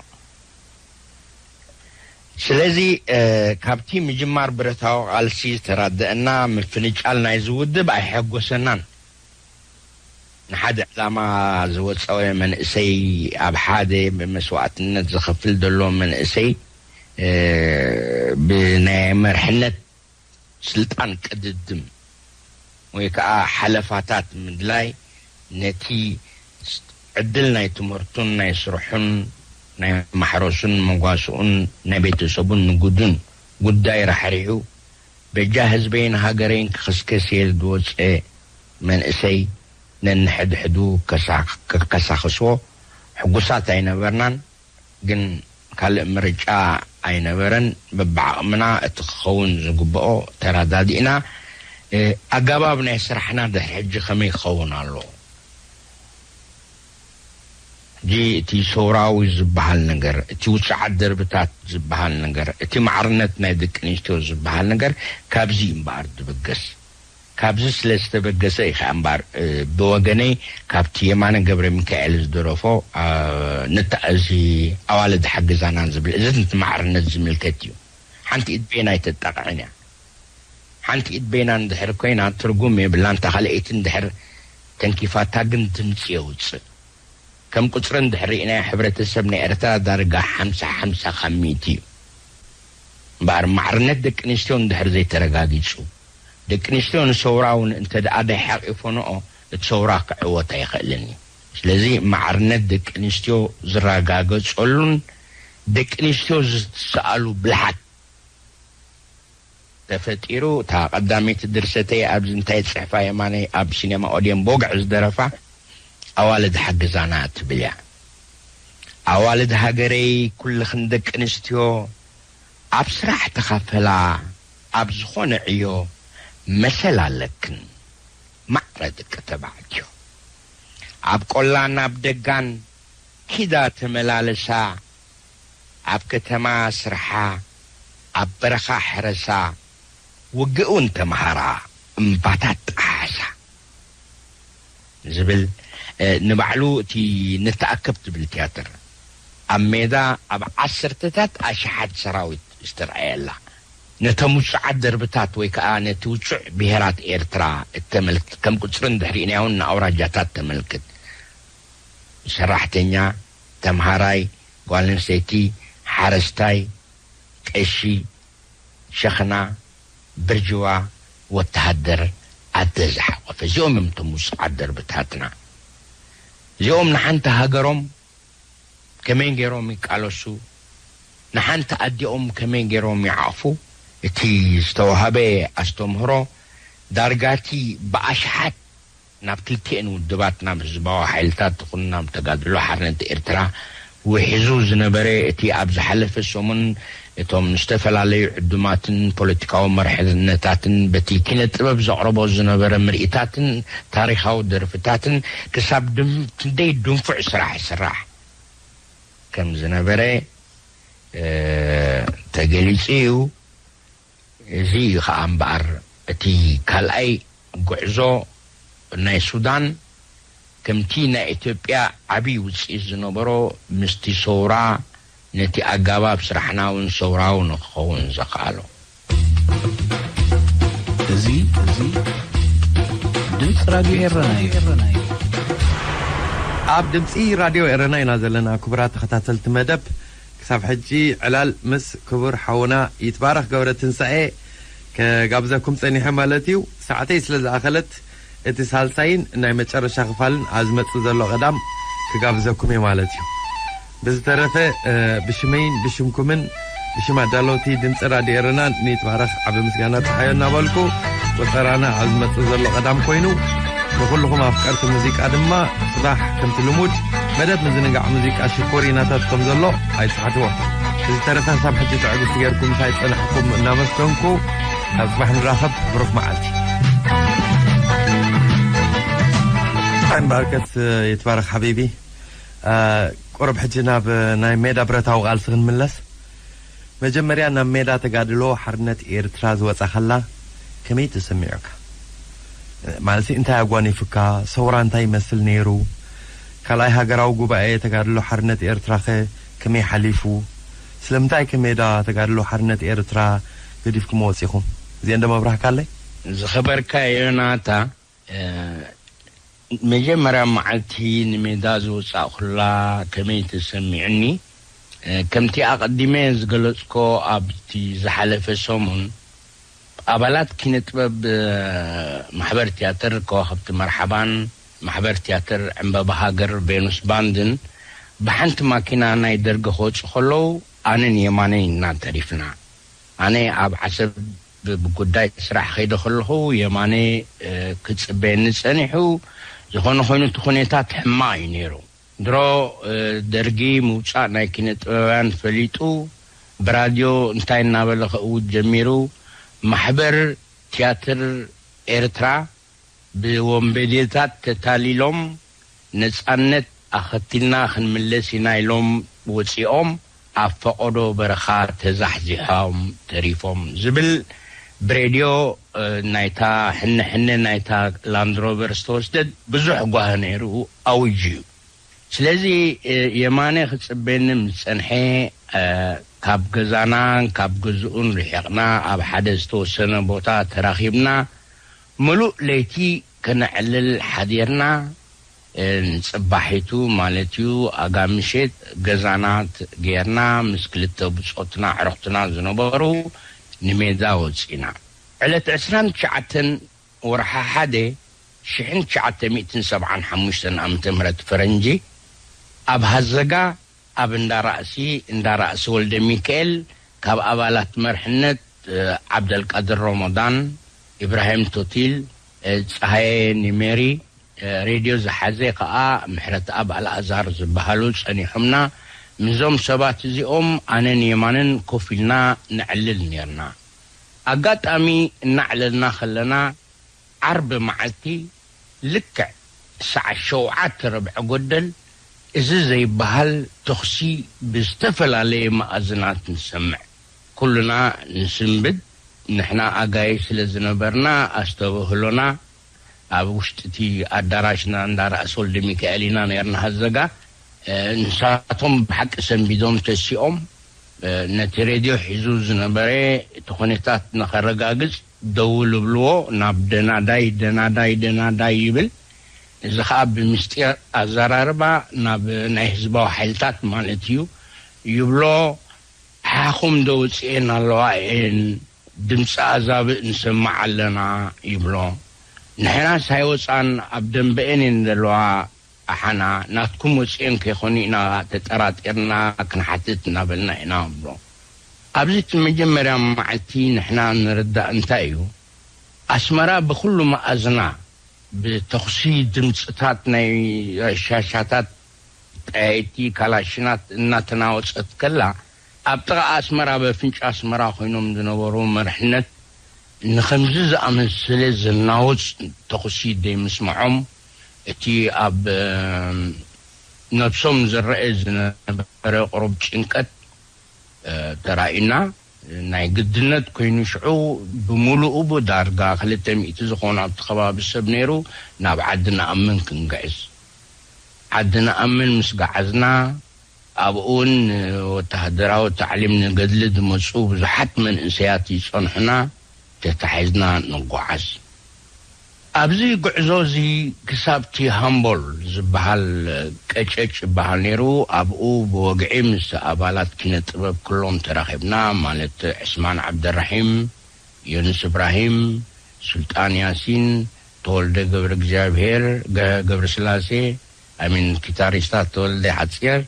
ስለዚ ካብቲ ምጅማር ብረታዊ ቃልሲ ዝተራደእና ምፍንጫል ናይዚ ውድብ ኣየሐጎሰናን። ንሓደ ዕላማ ዝወጸወ መንእሰይ ኣብ ሓደ መስዋእትነት ዝኸፍል ዘሎ መንእሰይ ብናይ መርሕነት ስልጣን ቅድድም ወይ ከኣ ሓለፋታት ምድላይ ነቲ ዕድል ናይ ትምህርቱን ናይ ስርሑን ናይ ማሕረሱን መጓስኡን ናይ ቤተሰቡን ንግዱን ጉዳይ ራሕሪሑ በጃ ህዝበይን ሃገረይን ክኽስከስ እየ ዝወጸ መንእሰይ ነንሕድሕዱ ከካሳኽሶ ሕጉሳት ኣይነበርናን ግን ካልእ ምርጫ ኣይነበረን በብዓቕምና እቲ ክኸውን ዝግብኦ ተራዳዲእና ኣጋባብ ናይ ስራሕና ድሕሪ ሕጂ ከመይ ክኸውን ኣለዎ ሕጂ እቲ ሰውራዊ ዝበሃል ነገር፣ እቲ ውጽዓት ደርብታት ዝበሃል ነገር፣ እቲ ማዕርነት ናይ ደቂ ኣንስትዮ ዝበሃል ነገር ካብዚ እዩ እምበኣር ዝበገስ። ካብዚ ስለ ዝተበገሰ እዩ ከኣ እምበኣር ብወገነይ ካብቲ የማነ ገብረሚካኤል ዝደረፎ እዚ ኣዋልድ ሓግዛና ዝብል እዚ ንማዕርነት ዝምልከት እዩ። ሓንቲ ኢድ በየን ኣይተጣቕዕን እያ። ሓንቲ ኢድ በይና እንድሕር ኮይና ትርጉም የብላን እታ ካልኣይቲ እንድሕር ተንኪፋታ ግን ድምጺ የውጽእ ከም ቁጽሪ እንድሕር ሪኢናዮ ሕብረተሰብ ናይ ኤርትራ ዳርጋ ሓምሳ ሓምሳ ካብ ሚእቲ እዩ እምበኣር ማዕርነት ደቂ ኣንስትዮ እንድሕር ዘይተረጋጊጹ ደቂ ኣንስትዮ ንሰውራ ውን እንተድኣ ደይሓቂፎንኦ እቲ ሰውራ ክዕወት ኣይኽእልን እዩ ስለዚ ማዕርነት ደቂ ኣንስትዮ ዝረጋገጸሉን ደቂ ኣንስትዮ ዝትስኣሉ ብልሓት ተፈጢሩ እታ ቀዳመይቲ ድርሰተይ ኣብዚ እንታይ ዝጽሕፋ የማነይ ኣብ ሲነማ ኦድየን ቦግዕ ዝደረፋ ኣዋልድ ሓግዛና እትብል እያ ኣዋልድ ሃገረይ ኩልኽን ደቂ ኣንስትዮ ኣብ ስራሕ ተኻፈላ ኣብ ዝኾነ ዕዮ መሰል ኣለክን ማዕረ ደቂ ተባዕትዮ ኣብ ቆላን ኣብ ደጋን ኪዳ ተመላለሳ ኣብ ከተማ ስርሓ፣ ኣብ በረኻ ሕረሳ፣ ውግእ'ውን ተመሃራ እምባታት ጠሓሓሳ ዝብል ንባዕሉ እቲ ንተኣከብ ትብል ትያትር ኣብ ሜዳ ኣብ ዓሰርተታት ኣሽሓት ሰራዊት ዝተርኣየላ ነቶም ውጹዓት ደርብታት ወይ ከኣ ነቲ ውጹዕ ብሄራት ኤርትራ እተመልክት ከም ቁጽርን ድሕሪኡንያውን ንኣውራጃታት ተመልክት ሰራሕተኛ ተምሃራይ፣ ጓል ኣንስተይቲ፣ ሓረስታይ፣ ቀሺ፣ ሸኽና፣ ብርጅዋ፣ ወተሃደር፣ ኣደ ዝሓቖፈ እዚኦም እዮም እቶም ውጹዓት ደርብታትና። እዚኦም ንሓንቲ ሃገሮም ከመይ ገይሮም ይቃለሱ፣ ንሓንቲ ኣዲኦም ከመይ ገይሮም ይዓቕፉ፣ እቲ ዝተዋህበ ኣስተምህሮ ዳርጋ እቲ ብኣሽሓት ናብ ክልቲኤን ውድባት ናብ ህዝባዊ ሓይልታት ትኹን ናብ ተጋድሎ ሓርነት ኤርትራ ውሕዙ ዝነበረ እቲ ኣብ ዝሓለፈ ሰሙን እቶም ዝተፈላለዩ ዕዱማትን ፖለቲካዊ መርሕነታትን በቲ ኪነ ጥበብ ዘቕርቦ ዝነበረ ምርኢታትን ታሪኻዊ ደርፍታትን ክሳብ ክንደይ ድንፉዕ ስራሕ ይስራሕ ከም ዝነበረ ተገሊጹ እዩ። እዚ እዩ ኸኣ እምበኣር እቲ ካልኣይ ጉዕዞ ናይ ሱዳን ከምቲ ናይ ኢትዮጵያ ዓቢ ውጽኢት ዝነበሮ ምስቲ ሰውራ ነቲ ኣጋባብ ስራሕናውን ሰውራዊ ንክኸውን ዘኸኣሎ። እዚ ድምጺ ራድዮ ኤረና እዩ። ኣብ ድምጺ ራድዮ ኤረና ኢና ዘለና ክቡራት ተኸታተልቲ መደብ። ክሳብ ሕጂ ዕላል ምስ ክቡር ሓውና ይትባረክ ገብረትንሳኤ ክጋብዘኩም ጸኒሐ ማለት እዩ። ሰዓተይ ስለ ዝኣኸለት እቲ ሳልሳይን ናይ መጨረሻ ክፋልን ኣብ ዝመጽእ ዘሎ ቀዳም ክጋብዘኩም እየ ማለት እዩ። ብዝተረፈ ብሽመይን ብሽምኩምን ብሽም ኣዳለውቲ ድምጺ ራድዮ ኤረናን ንይትባረክ ዓብ ምስጋና ጸሓዮ እናበልኩ ቁጸራና ኣብ ዝመጽእ ዘሎ ቀዳም ኮይኑ ንዅልኹም ኣፍቀርቲ ሙዚቃ ድማ ጽባሕ ከምቲ ልሙድ መደብ ምዝንጋዕ ሙዚቃ ሽኮር ይናታት ከም ዘሎ ኣይትሓትዎ እዚ ተረታ ሳብ ሕጂ ትዕግስቲ ጌርኩም እንታይ ጸናሕኩም እናመስገንኩ ካብ ጽባሕ ንራኸብ ብሩኽ መዓልቲ ባርከት ይትባረኽ ሓቢቢ ቁርብ ሕጂ ናብ ናይ ሜዳ ብረታዊ ቃልሲ ክንምለስ መጀመርያ ናብ ሜዳ ተጋድሎ ሓርነት ኤርትራ ዝወጻኻላ ከመይ ተሰሚዑካ? ማለትሲ እንታይ ኣጓኒፉካ? ሰውራ እንታይ ይመስል ነይሩ? ካልኣይ ሃገራዊ ጉባኤ ተጋድሎ ሓርነት ኤርትራኸ ከመይ ሓሊፉ? ስለምንታይከ ሜዳ ተጋድሎ ሓርነት ኤርትራ ገዲፍኩሞ ወጺኹም? እዚኤንዶ መብራህካለይ? ዝኸበርካ ዮናታ መጀመርያ መዓልቲ ንሜዳ ዝወጻእኩላ ከመይ ተሰሚዑኒ? ከምቲ ኣቐዲመ ዝገለጽኮ ኣብቲ ዝሓለፈ ሰሙን ኣባላት ኪነጥበብ ማሕበር ትያትር ከዋኽብቲ መርሓባን ማሕበር ትያትር ዕንበባ ሃገር ቬኑስ ባንድን ብሓንቲ ማኪና ናይ ደርጊ ክወጹ ከለዉ ኣነን የማነይን ኢና ተሪፍና ኣነ ኣብ ዓሰብ ብጉዳይ ስራሕ ከይደ ከለኹ የማነ ክጽበየኒ ጸኒሑ። ዝኾነ ኮይኑ እቲ ኩነታት ሕማቕ እዩ ነይሩ። ድሮ ደርጊ ምውጻእ ናይ ኪነ ጥበባውያን ፈሊጡ ብራድዮ እንታይ እናበለ ከእውጅ ጀሚሩ፣ ማሕበር ትያትር ኤርትራ፣ ብወንበዴታት ተታሊሎም ነጻነት ኣኸቲልና ክንምለስ ኢና ኢሎም ወጺኦም ኣብ ፈቐዶ በረኻ ተዛሕዚሖም ተሪፎም ዝብል ብሬድዮ ናይታ ሕነ ሕነ ናይታ ላንድሮቨር ዝተወስደት ብዙሕ ጓሂ ነይሩ ኣዊጁ እዩ። ስለዚ የማነ ክጽበየኒም ዝጸንሐ ካብ ገዛናን ካብ ገዝኡን ርሒቕና ኣብ ሓደ ዝተወሰነ ቦታ ተራኺብና ምሉእ ለይቲ ከነዕልል ሓዲርና ንጽባሒቱ ማለትዩ ኣጋምሸት ገዛና ገይርና ምስ ክልተ ብጾትና ኣዕሩኽትና ዝነበሩ ንሜዳ ወጺእና ዕለት ዕስራን ትሽዓተን ወርሓ ሓደ ሽሕን ትሽዓተ ሚእትን ሰብዓን ሓሙሽተን ዓመተ ምህረት ፈረንጂ ኣብ ሃዘጋ ኣብ እንዳ ራእሲ እንዳ ራእሲ ወልደሚካኤል ካብ ኣባላት መርሕነት ዓብደልቃድር ሮሞዳን፣ ኢብራሂም ቶቲል፣ ጸሃየ ኒሜሪ፣ ሬድዮ ዝሓዘ ከኣ ምሕረትኣብ ኣልኣዛር ዝበሃሉ ጸኒሑምና። ምስዞም ሰባት እዚኦም ኣነን የማነን ኮፍ ኢልና ነዕልል ኔርና። ኣጋጣሚ እናዕለልና ከለና ዓርቢ መዓልቲ ልክዕ ሰዓት ሸውዓተ ርብዒ ጎደል እዚ ዘይበሃል ተኹሲ ብዝተፈላለየ መኣዝናት ንሰምዕ። ኩልና ንስንብድ ንሕና ኣጋይሽ ስለ ዝነበርና ኣስተብህሎና ኣብ ውሽጢ'ቲ ኣዳራሽና እንዳ ራእሲ ወልደሚካኤል ኢና ኔርና ሀዘጋ። ንሳቶም ብሓቂ ሰንቢዶም ተሲኦም ነቲ ሬድዮ ሒዙ ዝነበረ እቲ ኩነታት ንኸረጋግጽ ደውል እብልዎ ናብ ደናዳይ ደናዳይ ደናዳይ ይብል እዚ ኸኣ ብምስጢር ኣዘራርባ ናብ ናይ ህዝባዊ ሓይልታት ማለት እዩ ይብሎ ሓኹም ዶ ውጺኤን ኣለዋ እየን ድምጺ ኣዛብእ ንሰምዕ ኣለና ይብሎ ንሕናስ ኣይወጻን ኣብ ደንበኤን እየን ዘለዋ ኣሓና ናትኩም ወጺኤን ከይኮኑ ኢና ተጠራጢርና ክንሓትት እናበልና ኢና ንብሎ ኣብዚ እቲ መጀመርያ ማዓልቲ ንሕና ንርዳእ እንታይ እዩ ኣስመራ ብኩሉ ማኣዝና ብተኩሲ ድምጽታት ናይ ረሻሻታት ጠያይቲ ካላሽናት እናተናወጸት ከላ ኣብ ጥቓ ኣስመራ ኣብ ኣፍንጫ ኣስመራ ኮይኖም ዝነበሩ መርሕነት ንኸምዚ ዝኣመሰለ ዘናውጽ ተኹሲ ዘይምስምዖም እቲ ኣብ ነብሶም ዝረኣ ዝነበረ ቁሩብ ጭንቀት ተራእዩና ናይ ግድነት ኮይኑ ሽዑ ብምሉኡ ዳርጋ ክልተ ሚእቲ ዝኾኑ ኣብቲ ከባቢ ሰብ ነይሩ ናብ ዓዲ ንኣምን ክንግዕዝ ዓዲ ንኣምን ምስ ገዓዝና ኣብኡውን ንወተሃደራዊ ታዕሊም ንገድሊ ዝመጹ ብዙሓት መንእሰያት ይጸንሑና፣ ተታሒዝና ንጓዓዝ። ኣብዚ ጉዕዞ እዚ ክሳብ'ቲ ሃምቦል ዝበሃል ቀጨጭ ይበሃል ነይሩ፣ ኣብኡ ብወግዒ ምስ ኣባላት ኪነ ጥበብ ኩሎም ተራኺብና፣ ማለት ዕስማን ዓብደልራሒም፣ ዮኑስ እብራሂም፣ ሱልጣን ያሲን፣ ተወልደ ገብረእግዚኣብሄር፣ ገ፣ ገብረስላሴ፣ ኣሚን ኪታሪስታት ተወልደ ሓጺር፣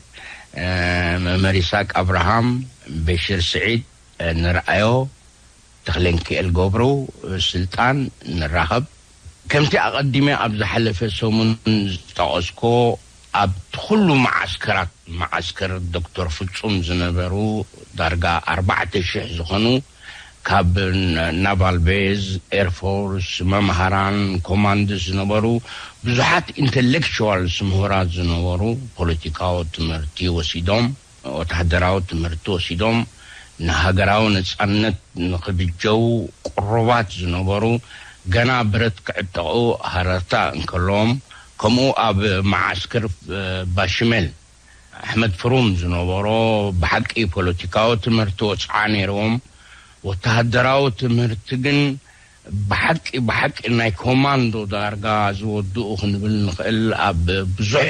መእመር ይስሃቅ ኣብርሃም፣ በሺር ስዒድ፣ ንርኣዮ፣ ተኽሌንኪኤል ገብሩ፣ ስልጣን፣ ንራኸብ። ከምቲ ኣቐዲመ ኣብ ዝሓለፈ ሰሙን ዝጠቐስኩዎ ኣብቲ ኩሉ መዓስከራት መዓስከር ዶክተር ፍጹም ዝነበሩ ዳርጋ ኣርባዕተ ሽሕ ዝኾኑ፣ ካብ ናቫል ቤዝ፣ ኤርፎርስ፣ መምሃራን፣ ኮማንድስ ዝነበሩ ብዙሓት ኢንተሌክቹዋልስ፣ ምሁራት፣ ዝነበሩ ፖለቲካዊ ትምህርቲ ወሲዶም፣ ወተሃደራዊ ትምህርቲ ወሲዶም፣ ንሃገራዊ ነጻነት ንኽብጀዉ ቅሩባት ዝነበሩ ገና ብረት ክዕጠቑ ሃረርታ እንከለዎም ከምኡ ኣብ መዓስክር ባሽሜል፣ ኣሕመድ ፍሩም ዝነበሮ ብሓቂ ፖለቲካዊ ትምህርቲ ወጽዓ ነይርዎም ወተሃደራዊ ትምህርቲ ግን ብሓቂ ብሓቂ ናይ ኮማንዶ ዳርጋ ዝወድኡ ክንብል ንኽእል ኣብ ብዙሕ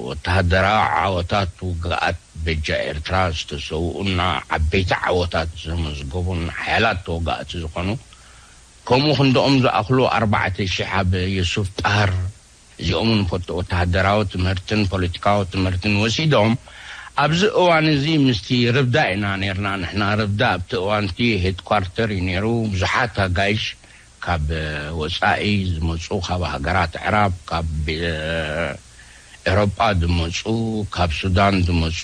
ወተሃደራዊ ዓወታት ውግኣት በጃ ኤርትራ ዝተሰውኡና ዓበይቲ ዓወታት ዘመዝገቡን ሓያላት ተወጋእቲ ዝኾኑ ከምኡ ክንድኦም ዝኣኽሉ ኣርባዕተ ሽሕ ኣብ የሱፍ ጣህር እዚኦም እውን ወተሃደራዊ ትምህርትን ፖለቲካዊ ትምህርትን ወሲዶም። ኣብዚ እዋን እዚ ምስቲ ርብዳ ኢና ኔርና ንሕና፣ ርብዳ ኣብቲ እዋን እቲ ሄድኳርተር እዩ ኔሩ፣ ብዙሓት ኣጋይሽ ካብ ወጻኢ ዝመጹ ካብ ሃገራት ኣዕራብ፣ ካብ ኤውሮጳ ዝመጹ፣ ካብ ሱዳን ዝመጹ፣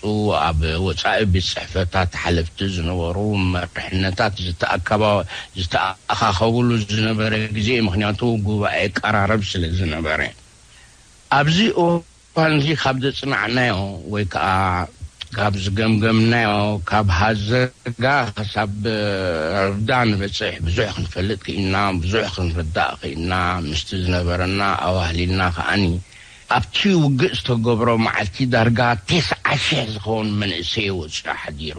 ኣብ ወጻኢ ቤት ጽሕፈታት ሓለፍቲ ዝነበሩ፣ መሪሕነታት ዝተኣከባ፣ ዝተኣኻኸብሉ ዝነበረ ግዜ ምኽንያቱ ጉባኤ ቀራርብ ስለ ዝነበረ። ኣብዚ እዋንዚ ካብ ዘጽናዕናዮ ወይ ከኣ ካብ ዝገምገምናዮ ካብ ሃዘጋ ክሳብ ረብዳ ንበጽሕ ብዙሕ ክንፈልጥ ክኢልና ብዙሕ ክንርዳእ ክኢልና ምስቲ ዝነበረና ኣዋህሊልና ከኣኒ ኣብቲ ውግእ ዝተገብሮ መዓልቲ ዳርጋ ተስዓ ሽሕ ዝኸውን መንእሰይ ወጺኡ ሓዲሩ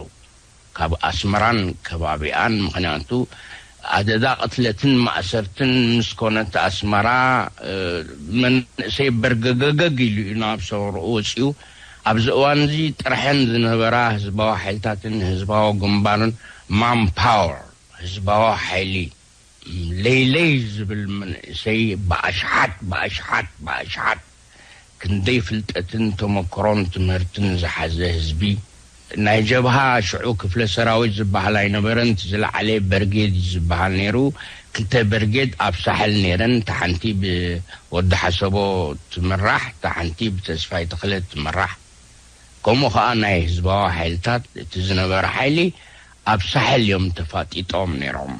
ካብ ኣስመራን ከባቢኣን ምኽንያቱ ኣደዳ ቅትለትን ማእሰርትን ምስ ኮነት ኣስመራ መንእሰይ በርገገገግ ኢሉ እዩ ናብ ሰውርኡ ወጺኡ ኣብዚ እዋን እዚ ጥርሐን ዝነበራ ህዝባዊ ሓይልታትን ህዝባዊ ግንባርን ማን ፓወር ህዝባዊ ሓይሊ ለይለይ ዝብል መንእሰይ ብኣሽሓት ብኣሽሓት ብኣሽሓት ክንደይ ፍልጠትን ተመክሮን ትምህርትን ዝሓዘ ህዝቢ ናይ ጀብሃ ሽዑ ክፍለ ሰራዊት ዝብሃል ኣይነበረን እቲ ዝለዓለ በርጌድ እዩ ዝብሃል ነይሩ ክልተ በርጌድ ኣብ ሳሕል ነይረን እታ ሓንቲ ብወዲ ሓሰቦ ትምራሕ እታ ሓንቲ ብተስፋይ ተኽለ ትምራሕ ከምኡ ከኣ ናይ ህዝባዊ ሓይልታት እቲ ዝነበረ ሓይሊ ኣብ ሳሕል እዮም ተፋጢጦም ነይሮም።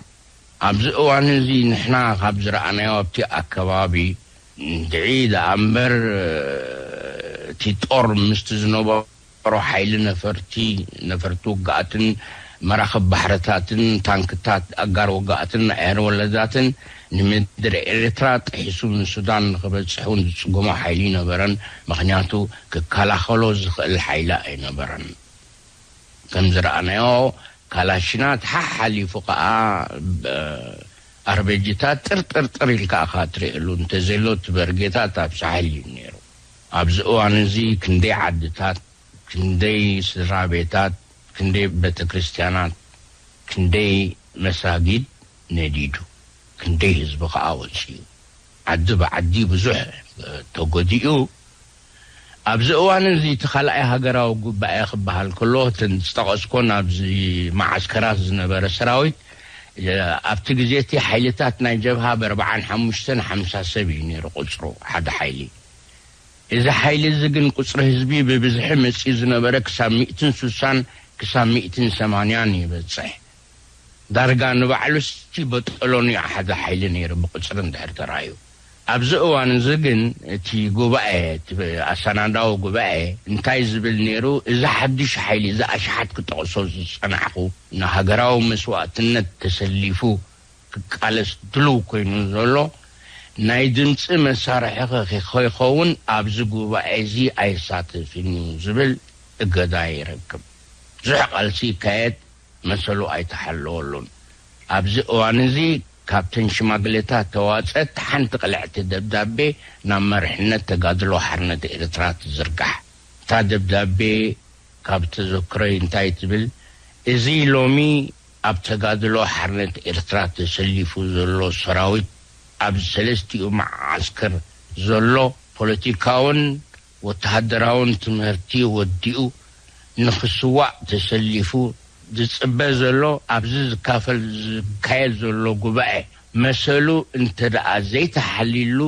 ኣብዚ እዋን እዚ ንሕና ካብ ዝረኣናዮ ኣብቲ ኣከባቢ እንድዒ ደኣ እምበር እቲ ጦር ምስቲ ዝነበሮ ሓይሊ ነፈርቲ፣ ነፈርቲ ውግኣትን መራኽብ ባሕርታትን፣ ታንክታት ኣጋር ውግኣትን ኣየር ወለዳትን ንምድሪ ኤርትራ ጥሒሱ ንሱዳን ንኽበጽሕ እውን ዝጽገሞ ሓይሊ ኣይነበረን። ምኽንያቱ ክከላኸሎ ዝኽእል ሓይሊ ኣይነበረን። ከም ዝረኣናዮ ካላሽናት ሓሓሊፉ ከኣ ኣርበጂታት ጥርጥርጥር ኢልካ እኻ ትርእየሉ እንተዘሎ እቲ በርጌታት ኣብ ሳሕል እዩ ኔሩ ኣብዚ እዋን እዚ ክንደይ ዓድታት ክንደይ ስድራቤታት ክንደይ በተክርስትያናት ክንደይ መሳጊድ ነዲዱ ክንደይ ህዝቢ ከኣ ወጺኡ ዓዲ ብዓዲ ብዙሕ ተጎዲኡ። ኣብዚ እዋን እዚ እቲ ካልኣይ ሃገራዊ ጉባኤ ክበሃል ከሎ እተን ዝጠቐስኮን ኣብዚ መዓስከራት ዝነበረ ሰራዊት ኣብቲ ግዜ እቲ ሓይልታት ናይ ጀብሃ ብ ኣርብዓን ሓሙሽተን ሓምሳ ሰብ እዩ ነይሩ ቁጽሩ ሓደ ሓይሊ እዚ ሓይሊ እዚ ግን ቁጽሪ ህዝቢ ብብዝሒ መጺኡ ዝነበረ ክሳብ ሚእትን ሱሳን ክሳብ ሚእትን ሰማንያን ይበጽሕ ዳርጋ ንባዕሉሲ በጦሎኒ ኣሓደ ሓይሊ ነይሩ ብቁጽሪ እንድሕር ተራእዩ። ኣብዚ እዋን እዚ ግን እቲ ጉባኤ እቲ ኣሰናዳዊ ጉባኤ እንታይ ዝብል ነይሩ እዚ ሓዱሽ ሓይሊ እዚ ኣሽሓት ክጠቕሶ ዝጸናሕኩ ንሃገራዊ መስዋእትነት ተሰሊፉ ክቃለስ ድሉው ኮይኑ ዘሎ ናይ ድምጺ መሳርሒኺ ከይኸውን ኣብዚ ጉባኤ እዚ ኣይሳተፍን እዩ ዝብል እገዳ ይረክብ። ብዙሕ ቃልሲ ይካየድ። መሰሉ ኣይተሓለወሉን። ኣብዚ እዋን'ዚ ካብተን ሽማግሌታት ተዋጸት ሓንቲ ቅልዕቲ ደብዳቤ ናብ መሪሕነት ተጋድሎ ሓርነት ኤርትራ ትዝርጋሕ። እታ ደብዳቤ ካብ ተዘክሮይ እንታይ ትብል፣ እዚ ሎሚ ኣብ ተጋድሎ ሓርነት ኤርትራ ተሰሊፉ ዘሎ ሰራዊት ኣብ ሰለስቲኡ መዓስከር ዘሎ ፖለቲካውን ወተሃደራውን ትምህርቲ ወዲኡ ንኽስዋእ ተሰሊፉ ዝጽበ ዘሎ ኣብዚ ዝካፈል ዝካየድ ዘሎ ጉባኤ መሰሉ እንተድኣ ዘይተሓልይሉ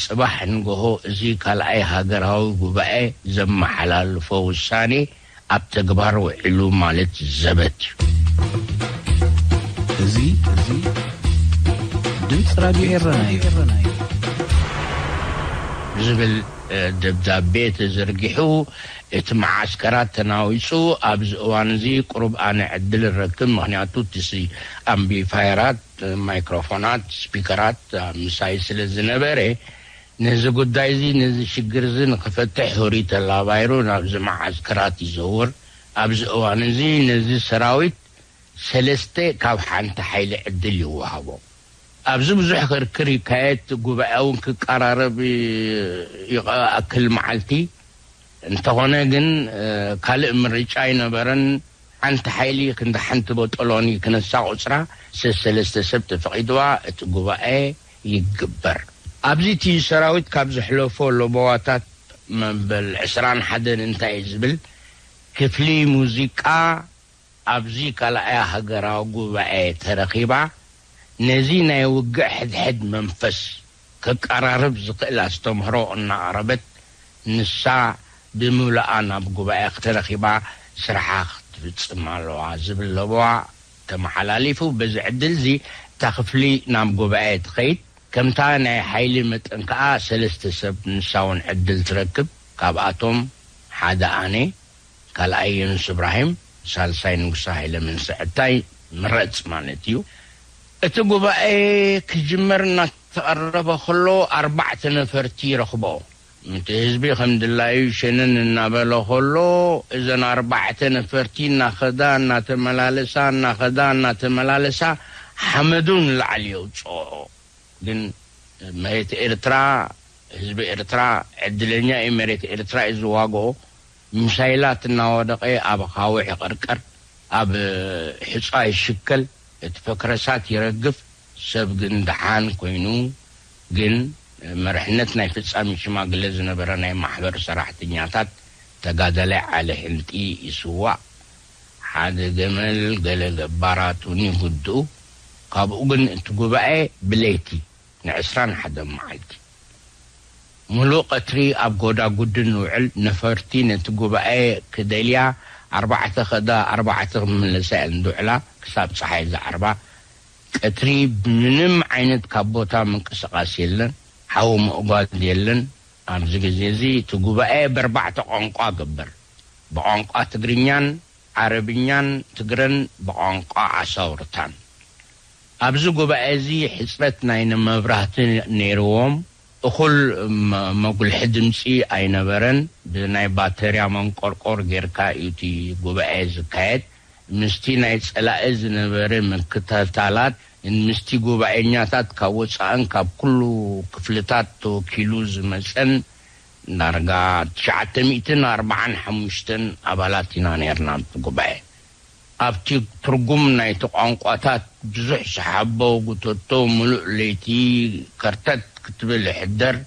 ጽባሕ ንገሆ እዚ ካልኣይ ሃገራዊ ጉባኤ ዘመሓላልፎ ውሳኔ ኣብ ተግባር ውዒሉ ማለት ዘበት እዩ። እዚ ድምጺ ራድዮ ኤረና እዩ። ዝብል ደብዳቤ ተዘርጊሑ እቲ መዓስከራት ተናዊጹ ኣብዚ እዋን እዚ ቁሩብ ኣነ ዕድል እረክብ ምክንያቱ እቲ ኣምቢፋየራት ማይክሮፎናት ስፒከራት ምሳይ ስለ ዝነበረ ነዚ ጉዳይ'ዚ ነዚ ሽግር'ዚ ንኽፈትሕ ሁሪ ተላባይሩ ናብዚ መዓስከራት ይዘውር። ኣብዚ እዋን'ዚ ነዚ ሰራዊት ሰለስተ ካብ ሓንቲ ሓይሊ ዕድል ይወሃቦ። ኣብዚ ብዙሕ ክርክር ይካየድ፣ ጉባኤ'ውን ክቀራረብ ይኣክል መዓልቲ። እንተኾነ ግን ካልእ ምርጫ ኣይነበረን። ሓንቲ ሓይሊ ክንዲ ሓንቲ ቦጦሎኒ ክነሳ ቁጽራ ሰሰለስተ ሰብ ተፈቒድዋ እቲ ጉባኤ። ይግበር። ኣብዚ እቲ ሰራዊት ካብ ዘሕለፎ ለበዋታት መበል ዕስራን ሓደን እንታይ ዝብል ክፍሊ ሙዚቃ ኣብዚ ካልኣይ ሃገራዊ ጉባኤ ተረኺባ ነዚ ናይ ውግእ ሕድሕድ መንፈስ ከቀራርብ ዝኽእል ኣስተምህሮ እናቕረበት ንሳ ብምሉኣ ናብ ጉባኤ ተረኺባ ስርሓ ክትፍጽም ኣለዋ ዝብል ለበዋ ተመሓላሊፉ። በዚ ዕድል'ዚ እታ ክፍሊ ናብ ጉባኤ ትኸይድ። ከምታ ናይ ሓይሊ መጠን ከኣ ሰለስተ ሰብ ንሳ'ውን ዕድል ትረክብ። ካብኣቶም ሓደ ኣነ፣ ካልኣይ የኑስ እብራሂም፣ ሳልሳይ ንጉሰ ሃይለ መንሰዐታይ ምረጽ ማለት እዩ። እቲ ጉባኤ ክጅመር እናተቐረበ ከሎ ኣርባዕተ ነፈርቲ ረኽቦ። እቲ ህዝቢ ከም ድላዩ ሸነን እናበለ ከሎ፣ እዘን ኣርባዕተ ነፈርቲ እናኸዳ እናተመላለሳ እናኸዳ እናተመላለሳ ሓመዱ ንላዕሊ የውጽኦኦ። ግን መሬት ኤርትራ ህዝቢ ኤርትራ ዕድለኛ እዩ መሬት ኤርትራ እዩ ዝዋግኦ። ሚሳይላት እናወደቐ ኣብ ኣኻውሕ ይቕርቀር፣ ኣብ ሑጻ ይሽከል፣ እቲ ፈክረሳት ይረግፍ። ሰብ ግን ደሓን ኮይኑ ግን መርሕነት ናይ ፍጻሚ ሽማግለ ዝነበረ ናይ ማሕበር ሰራሕተኛታት ተጋዳላይ ዓሊ ሕልጢ ይስዋእ ሓደ ገመል ገለ ገባራት ውን ይጉድኡ ካብኡ ግን እቲ ጉባኤ ብለይቲ ንዕስራን ሓደን መዓልቲ ምሉእ ቀትሪ ኣብ ጎዳጉዲ ንውዕል ነፈርቲ ነቲ ጉባኤ ክደልያ ኣርባዕተ ከዳ ኣርባዕተ ክምለሳ እየን ዝውዕላ ክሳብ ጸሓይ ዝዓርባ ቀትሪ ምንም ዓይነት ካብ ቦታ ምንቅስቃስ የለን ሓዊ ምእጓድ የለን ኣብዚ ግዜ እዚ እቲ ጉባኤ በርባዕተ ቋንቋ ግበር ብቋንቋ ትግርኛን ዓረብኛን ትግረን ብቋንቋ ዓሳውርታን ኣብዚ ጉባኤ እዚ ሕጽረት ናይ ንመብራህቲ ነይርዎም እኹል መጉልሒ ድምጺ ኣይነበረን ብናይ ባተርያ መንቆርቆር ጌርካ እዩ እቲ ጉባኤ ዝካየድ ምስቲ ናይ ጸላኢ ዝነበረ ምክትታላት ን ምስቲ ጉባኤኛታት ካብ ወጻእን ካብ ኩሉ ክፍልታት ተወኪሉ ዝመጸን ዳርጋ ትሽዓተ ሚእትን ኣርብዓን ሓሙሽተን ኣባላት ኢና ኔርና ኣብቲ ጉባኤ። ኣብቲ ትርጉም ናይቲ ቋንቋታት ብዙሕ ሰሓቦ ጉተቶ ምሉእ ለይቲ ከርተት ክትብል ይሕደር።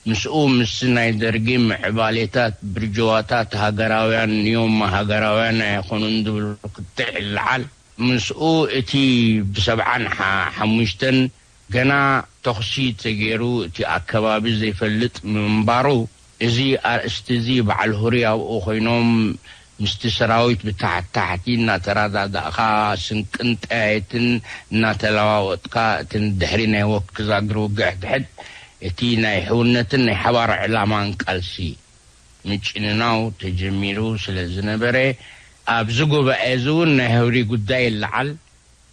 ምስኡ ምስ ናይ ደርጊ ምዕባሌታት ብርጅዋታት ሃገራውያን ንዮማ ሃገራውያን ኣይኾኑን ዝብል ክትዕ ዝልዓል ምስኡ እቲ ብሰብዓን ሓሙሽተን ገና ተኹሲ ተገይሩ እቲ ኣከባቢ ዘይፈልጥ ምንባሩ እዚ ኣርእስቲ'ዚ በዓል ሁሪ ኣብኡ ኮይኖም ምስቲ ሰራዊት ብታሕት ታሕቲ እናተራዳዳእኻ ስንቅን ጠያይትን እናተለዋወጥካ እቲ ንድሕሪ ናይ ወክ ዛግር ውግእ ሕድሕድ እቲ ናይ ሕውነትን ናይ ሓባር ዕላማን ቃልሲ ምጭንናው ተጀሚሩ ስለ ዝነበረ ኣብዚ ጉባኤ እዚ እውን ናይ ህብሪ ጉዳይ ይለዓል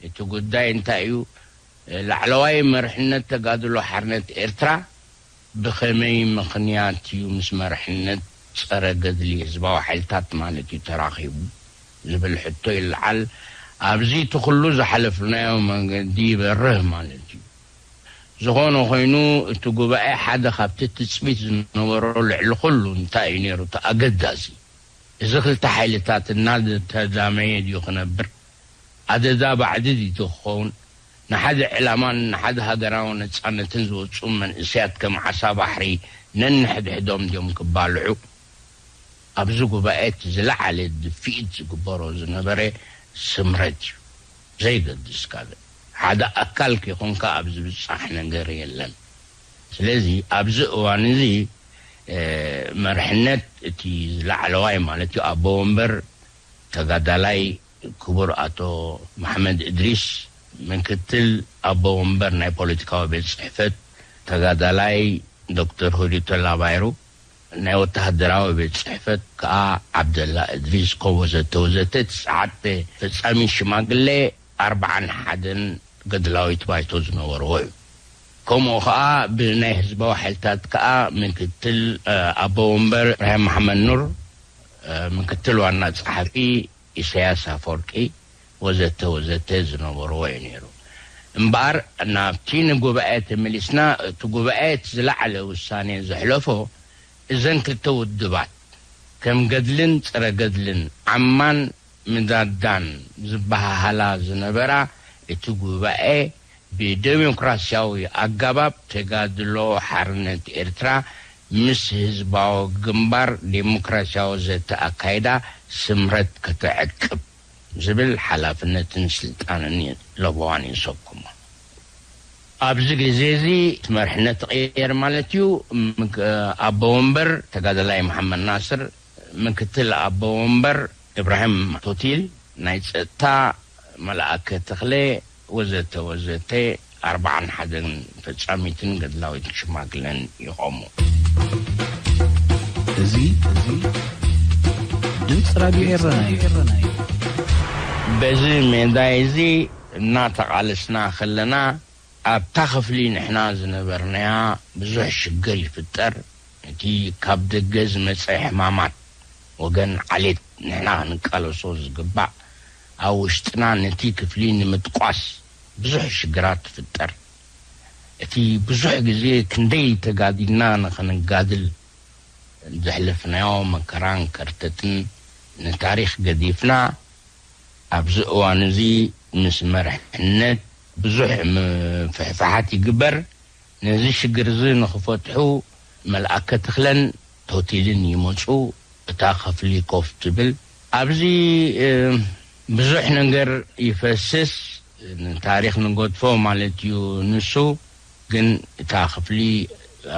እቲ ጉዳይ እንታይ እዩ ላዕለዋይ መርሕነት ተጋድሎ ሓርነት ኤርትራ ብኸመይ ምኽንያት እዩ ምስ መርሕነት ጸረ ገድሊ ህዝባዊ ሓይልታት ማለት እዩ ተራኺቡ ዝብል ሕቶ ይልዓል። ኣብዚ እቲ ኩሉ ዝሓለፍናዮ መንገዲ ይበርህ ማለት እዩ። ዝኾነ ኮይኑ እቲ ጉባኤ ሓደ ካብቲ ትጽቢት ዝነበሮ ልዕሊ ኩሉ እንታይ እዩ ነይሩ እቲ ኣገዳሲ እዚ ክልተ ሓይልታት እናተዛመየ ድዩ ክነብር ኣደዳ ባዕዲ ድዩ ክኸውን ንሓደ ዕላማን ንሓደ ሃገራዊ ነጻነትን ዝወጹ መንእሰያት ከም ዓሳ ባሕሪ ነንሕድሕዶም ድዮም ክባልዑ? ኣብዚ ጉባኤ እቲ ዝለዓለ ድፍኢት ዝግበሮ ዝነበረ ስምረት እዩ። ዘይገድስ ካልእ ሓደ ኣካል ከይኮንካ ኣብ ዝብጻሕ ነገር የለን። ስለዚ ኣብዚ እዋን እዚ መርሕነት እቲ ላዕለዋይ ማለት እዩ ኣቦ ወንበር ተጋዳላይ ክቡር ኣቶ መሓመድ እድሪስ ምክትል ኣቦ ወንበር ናይ ፖለቲካዊ ቤት ጽሕፈት፣ ተጋዳላይ ዶክተር ሁዲ ቶላ ባይሩ ናይ ወተሃደራዊ ቤት ጽሕፈት ከኣ ዓብደላ እድሪስ ኮም ወዘተ ወዘተ ትስዓተ ፈጻሚት ሽማግለ ኣርብዓን ሓደን ገድላዊት ባይቶ ዝነበርዎ እዩ። ከምኡ ከኣ ብናይ ህዝባዊ ሓይልታት ከኣ ምክትል ኣቦ ወንበር ኢብራሂም መሓመድ ኑር ምክትል ዋና ጸሓፊ፣ ኢሰያስ ኣፎርቂ ወዘተ ወዘተ ዝነበርዎ እዩ ነይሩ እምበኣር ናብቲ ንጉባኤ ተመሊስና እቲ ጉባኤ እቲ ዝለዓለ ውሳኔ ዘሕለፎ እዘን ክልተ ውድባት ከም ገድልን ጸረ ገድልን ዓማን ምዳዳን ዝበሃሃላ ዝነበራ እቲ ጉባኤ ብደሞክራሲያዊ ኣጋባብ ተጋድሎ ሓርነት ኤርትራ ምስ ህዝባዊ ግንባር ዴሞክራሲያዊ ዘተ ኣካይዳ ስምረት ከተዕቅብ ዝብል ሓላፍነትን ስልጣንን እዩ ለበዋን የሰኩሞ። ኣብዚ ግዜ እዚ እቲ መርሕነት ተቐየር ማለት እዩ። ምክ ኣቦ ወንበር ተጋዳላይ መሓመድ ናስር፣ ምክትል ኣቦ ወንበር እብራሂም ቶቲል፣ ናይ ጸጥታ መልኣከ ተኽለ፣ ወዘተ ወዘተ ኣርብዓን ሓደን ፈጻሚትን ገድላዊት ሽማግለን ይቖሙ። እዚ ድምፂ ራድዮ ኤረና እዩ። በዚ ሜዳይ እዚ እናተቓለስና ከለና ኣብታ ክፍሊ ንሕና ዝነበርናያ ብዙሕ ሽግር ይፍጠር፣ ነቲ ካብ ደገ ዝመጸ ሕማማት ወገን ዓሌት ንሕና ክንቃለሶ ዝግባእ፣ ኣብ ውሽጥና ነቲ ክፍሊ ንምጥቋስ ብዙሕ ሽግራት ትፍጠር። እቲ ብዙሕ ግዜ ክንደይ ተጋዲልና ንኸንጋድል ዘሕለፍናዮ መከራን ከርተትን ንታሪኽ ገዲፍና ኣብዚ እዋን'ዚ ምስ መርሕነት ብዙሕ ምፍሕፋሓት ይግበር። ነዚ ሽግር'ዚ ንኽፈትሑ መልኣከ ተኽለን ቶቲልን ይመጹ እታ ከፍሊ ኮፍ ትብል። ኣብዚ ብዙሕ ነገር ይፈስስ ንታሪኽ ንገድፎ ማለት እዩ ንሱ ግን እታ ክፍሊ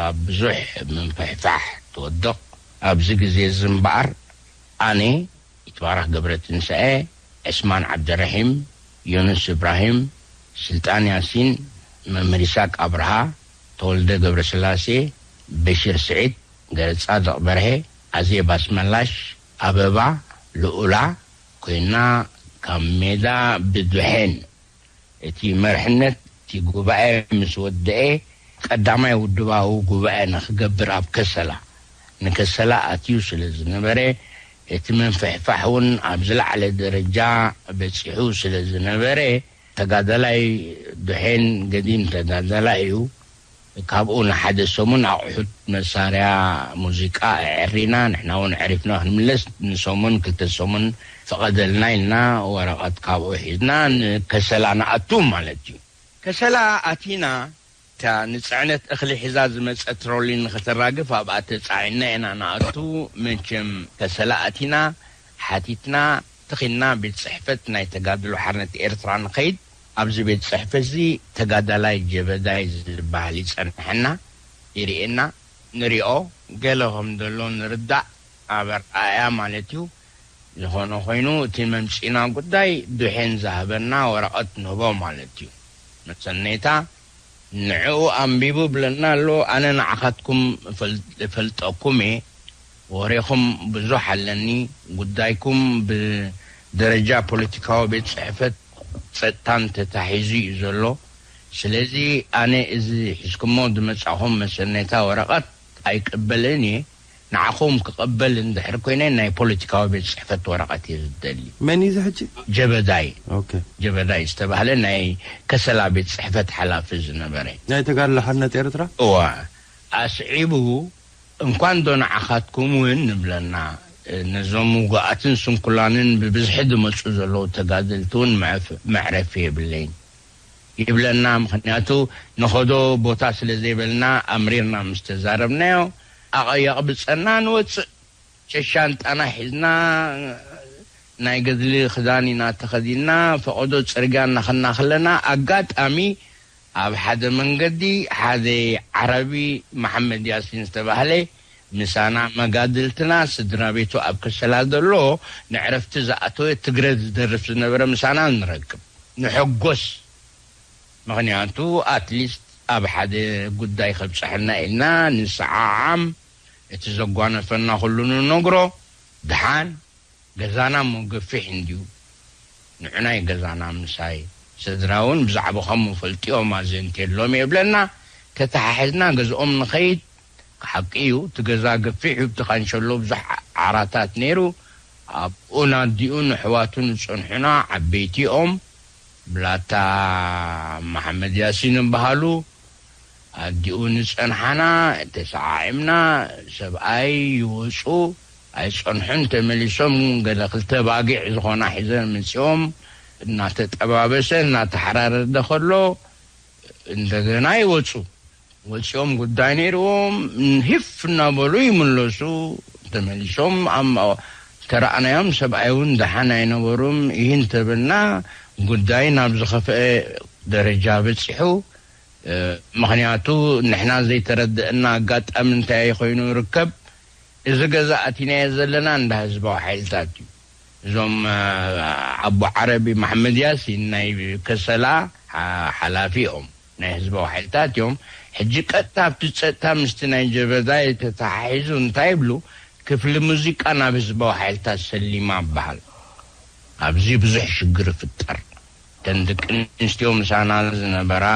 ኣብ ብዙሕ ምንፍሕፋሕ ትወድቕ ኣብዚ ግዜ እዚ እምበኣር ኣነ ይትባረኽ ገብረትንሳኤ ዕስማን ዓብደረሒም ዮኑስ እብራሂም ስልጣን ያሲን መምህር ይስሃቅ ኣብርሃ ተወልደ ገብረስላሴ፣ በሺር ስዒድ፣ ገረጻድቕ በርሀ፣ ኣዜብ ኣስመላሽ፣ ኣበባ፣ ልኡላ፣ ኮይና ካብ ሜዳ ብደሐን እቲ መርሕነት እቲ ጉባኤ ምስ ወደኤ ቀዳማይ ውድባዊ ጉባኤ ንክገብር ኣብ ከሰላ ንከሰላ ኣትዩ ስለ ዝነበረ እቲ ምንፍሕፋሕ ውን ኣብ ዝለዓለ ደረጃ በጺሑ ስለ ዝነበረ ተጋዳላይ ዱሔን ገዲም ተጋዳላይ እዩ። ካብኡ ንሓደ ሰሙን ኣቑሑት መሳርያ ሙዚቃ ኣዐሪና፣ ንሕና እውን ኣዕሪፍና ክንምለስ ንሰሙን ክልተ ሰሙን ፍቐደልና ኢልና ወረቐት ካብኡ ሒዝና ንከሰላ ንኣቱ ማለት እዩ። ከሰላ ኣቲና እታ ንጽዕነት እኽሊ ሒዛ ዝመጸት ትሮሊ ንኸተራግፍ ኣብኣ ተጻዒንና ኢና ንኣቱ፣ መቸም ከሰላ ኣቲና፣ ሓቲትና፣ ተኺልና ቤት ጽሕፈት ናይ ተጋድሎ ሓርነት ኤርትራ ንኸይድ፣ ኣብዚ ቤት ጽሕፈትዚ ተጋዳላይ ጀበዳይ ዝበሃል ይጸንሐና፣ ይርእየና፣ ንሪኦ፣ ገለ ከምዘሎ ንርዳእ፣ ኣብ ኣርኣእያ ማለትዩ፣ ዝኾነ ኾይኑ እቲ መምጺእና ጉዳይ ዱሐን ዝሃበና ወረቀት ንህቦ ማለት እዩ መሰነይታ ንዕኡ ኣንቢቡ ብለና ኣሎ ኣነ ንዓኻትኩም እፈልጠኩም እየ ወሬኹም ብዙሕ ኣለኒ ጉዳይኩም ብደረጃ ፖለቲካዊ ቤት ጽሕፈት ጸጥታን ተታሒዙ እዩ ዘሎ ስለዚ ኣነ እዚ ሒዝኩሞ ዝመጻኹም መሰነይታ ወረቀት ኣይቅበልን እየ ንዓኹም ክቅበል እንድሕር ኮይነ ናይ ፖለቲካዊ ቤት ጽሕፈት ወረቀት እየ ዝደሊ። መን እዩ እዚ ሕጂ? ጀበዳይ ኦከ። ጀበዳይ ዝተባህለ ናይ ከሰላ ቤት ጽሕፈት ሓላፊ ዝነበረ። ናይ ተጋድሎ ሓርነት ኤርትራ? እወ። ኣስዒቡ እንኳንዶ ንዓኻትኩም ውን ንብለና ነዞም ውጉኣትን ስንኩላንን ብብዝሒ ዝመጹ ዘለዉ ተጋደልቲ ውን መዕረፊ የብለይን። ይብለና ምኽንያቱ ንኸዶ ቦታ ስለ ዘይበልና ኣምሪርና ምስ ተዛረብናዮ ኣቐየቕብጸና ንወጽእ ሸሻንጣና ሒዝና ናይ ገድሊ ክዳን ኢና ተኸዲንና ፈቐዶ ጽርግያ እናኸድና ከለና ኣጋጣሚ ኣብ ሓደ መንገዲ ሓደ ዓረቢ መሓመድ ያሲን ዝተባህለ ምሳና መጋድልትና ስድራቤቱ ኣብ ከሰላ ዘሎ ንዕረፍቲ ዝኣተወ ትግረ ዝደርፍ ዝነበረ ምሳና ንረክብ ንሕጎስ ምክንያቱ ኣትሊስት ኣብ ሓደ ጉዳይ ከብጽሐና ኢልና ንሰዓዓም እቲ ዘጓነፈና ኩሉ ንነግሮ ድሓን ገዛና እሞ ገፊሕ እንድዩ ንዑናይ ገዛና ምሳይ ሰድራ ውን ብዛዕብኹም እፈልጥዮም ኣዘንትየሎም እየ ይብለና ተታሓሕዝና ገዝኦም ንኸይድ ሓቂ እዩ እቲ ገዛ ገፊሕ እዩ ኣብቲ ካንሸሎ ብዙሕ ዓራታት ነይሩ ኣብኡን ኣዲኡን ኣሕዋቱን ዝጸንሑና ዓበይቲ እዮም ብላታ ማሓመድ ያሲን ይባሃሉ ኣዲኡን ዝጸንሓና ተሳዓዒምና ሰብኣይ ይወጹ ኣይጸንሑን ተመሊሶም ገለ ክልተ ኣባጊዕ ዝኾና ሒዘን መጺኦም እናተጠባበሰ እናተሓራረደ ከሎ እንደገና ይወጹ። ወጺኦም ጉዳይ ነይርዎም ሂፍ እናበሉ ይምለሱ ተመሊሶም ተራኣናዮም ሰብኣይ ውን ደሓን ኣይነበሩም እሂ እንተበልና ጉዳይ ናብ ዝኸፈኣ ደረጃ በጺሑ ምኽንያቱ ንሕና ዘይተረደኣና ኣጋጣሚ እንታይ ኮይኑ ይርከብ እዚ ገዛ ኣቲናዮ ዘለና እንዳ ህዝባዊ ሓይልታት እዩ እዞም ኣቡ ዓረቢ መሓመድ ያሲን ናይ ከሰላ ሓላፊ እዮም። ናይ ህዝባዊ ሓይልታት እዮም ሕጂ ቀጥታ ኣብቲ ጸጥታ ምስቲ ናይ ጀበዛይ ተታሓሒዙ እንታይ ይብሉ ክፍሊ ሙዚቃ ናብ ህዝባዊ ሓይልታት ሰሊማ ይበሃል ኣብዚ ብዙሕ ሽግር ይፍጠር እተን ደቂ ኣንስትዮ ምሳና ዝነበራ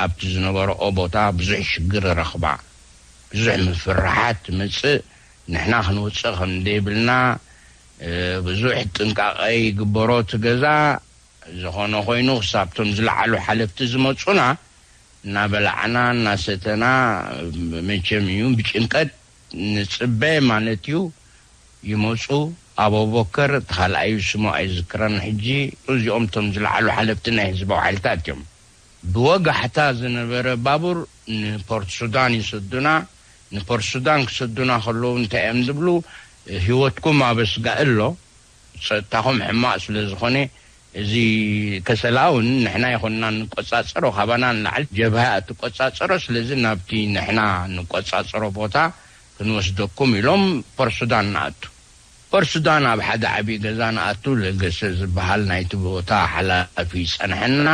ኣብቲ ዝነበረኦ ቦታ ብዙሕ ሽግር ይረኽባ ብዙሕ ምፍርሓት ይመጽእ ንሕና ክንወጽእ ከምደይብልና ብዙሕ ጥንቃቐ ይግበሮ እቲ ገዛ ዝኾነ ኾይኑ ክሳብ ቶም ዝለዓሉ ሓለፍቲ ዝመፁና እናበላዕና እናሰተና መቸም እዩ ብጭንቀት ንፅበ ማለት እዩ ይመፁ ኣበቦከር እቲ ካልኣዩ ስሙ ኣይዝክረን ሕጂ እዚኦም ቶም ዝለዓሉ ሓለፍቲ ናይ ህዝባዊ ሓይልታት እዮም ብወጋሕታ ዝነበረ ባቡር ንፖርትሱዳን ይሰዱና ንፖርትሱዳን ክሰዱና ከለዉ እንታይ እዮም ዝብሉ ህይወትኩም ኣበስጋኢ ኣሎ ጸጥታኹም ሕማቕ ስለ ዝኾነ እዚ ከሰላ ውን ንሕና ይኹንና እንቆጻጸሮ ካባና ንላዕሊ ጀብሃ እያ እትቆጻጸሮ ስለዚ ናብቲ ንሕና እንቆጻጸሮ ቦታ ክንወስደኩም ኢሎም ፖርሱዳን ንኣቱ ፖርሱዳን ኣብ ሓደ ዓቢ ገዛ ንኣቱ ለገሰ ዝብሃል ናይቲ ቦታ ሓላፊ ይጸንሐና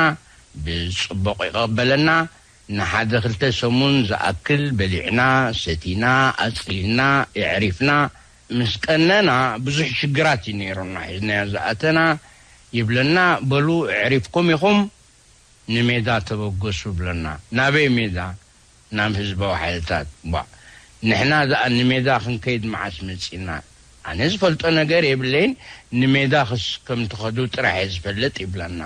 ብጽቡቕ ይቐበለና ንሓደ ክልተ ሰሙን ዝኣክል በሊዕና ሰቲና ኣጽሊልና የዕሪፍና ምስ ቀነና ብዙሕ ሽግራት እዩ ነይሩና ሒዝናዮ ዝኣተና ይብለና በሉ ኣዕሪፍኩም ኢኹም ንሜዳ ተበገሱ ብለና ናበይ ሜዳ ናብ ህዝባዊ ሓይልታት ቧእ ንሕና ዝኣ ንሜዳ ክንከይድ መዓስ መጺእና ኣነ ዝፈልጦ ነገር የብለይን ንሜዳ ክስ ከምትኸዱ ጥራሕ እየ ዝፈልጥ ይብለና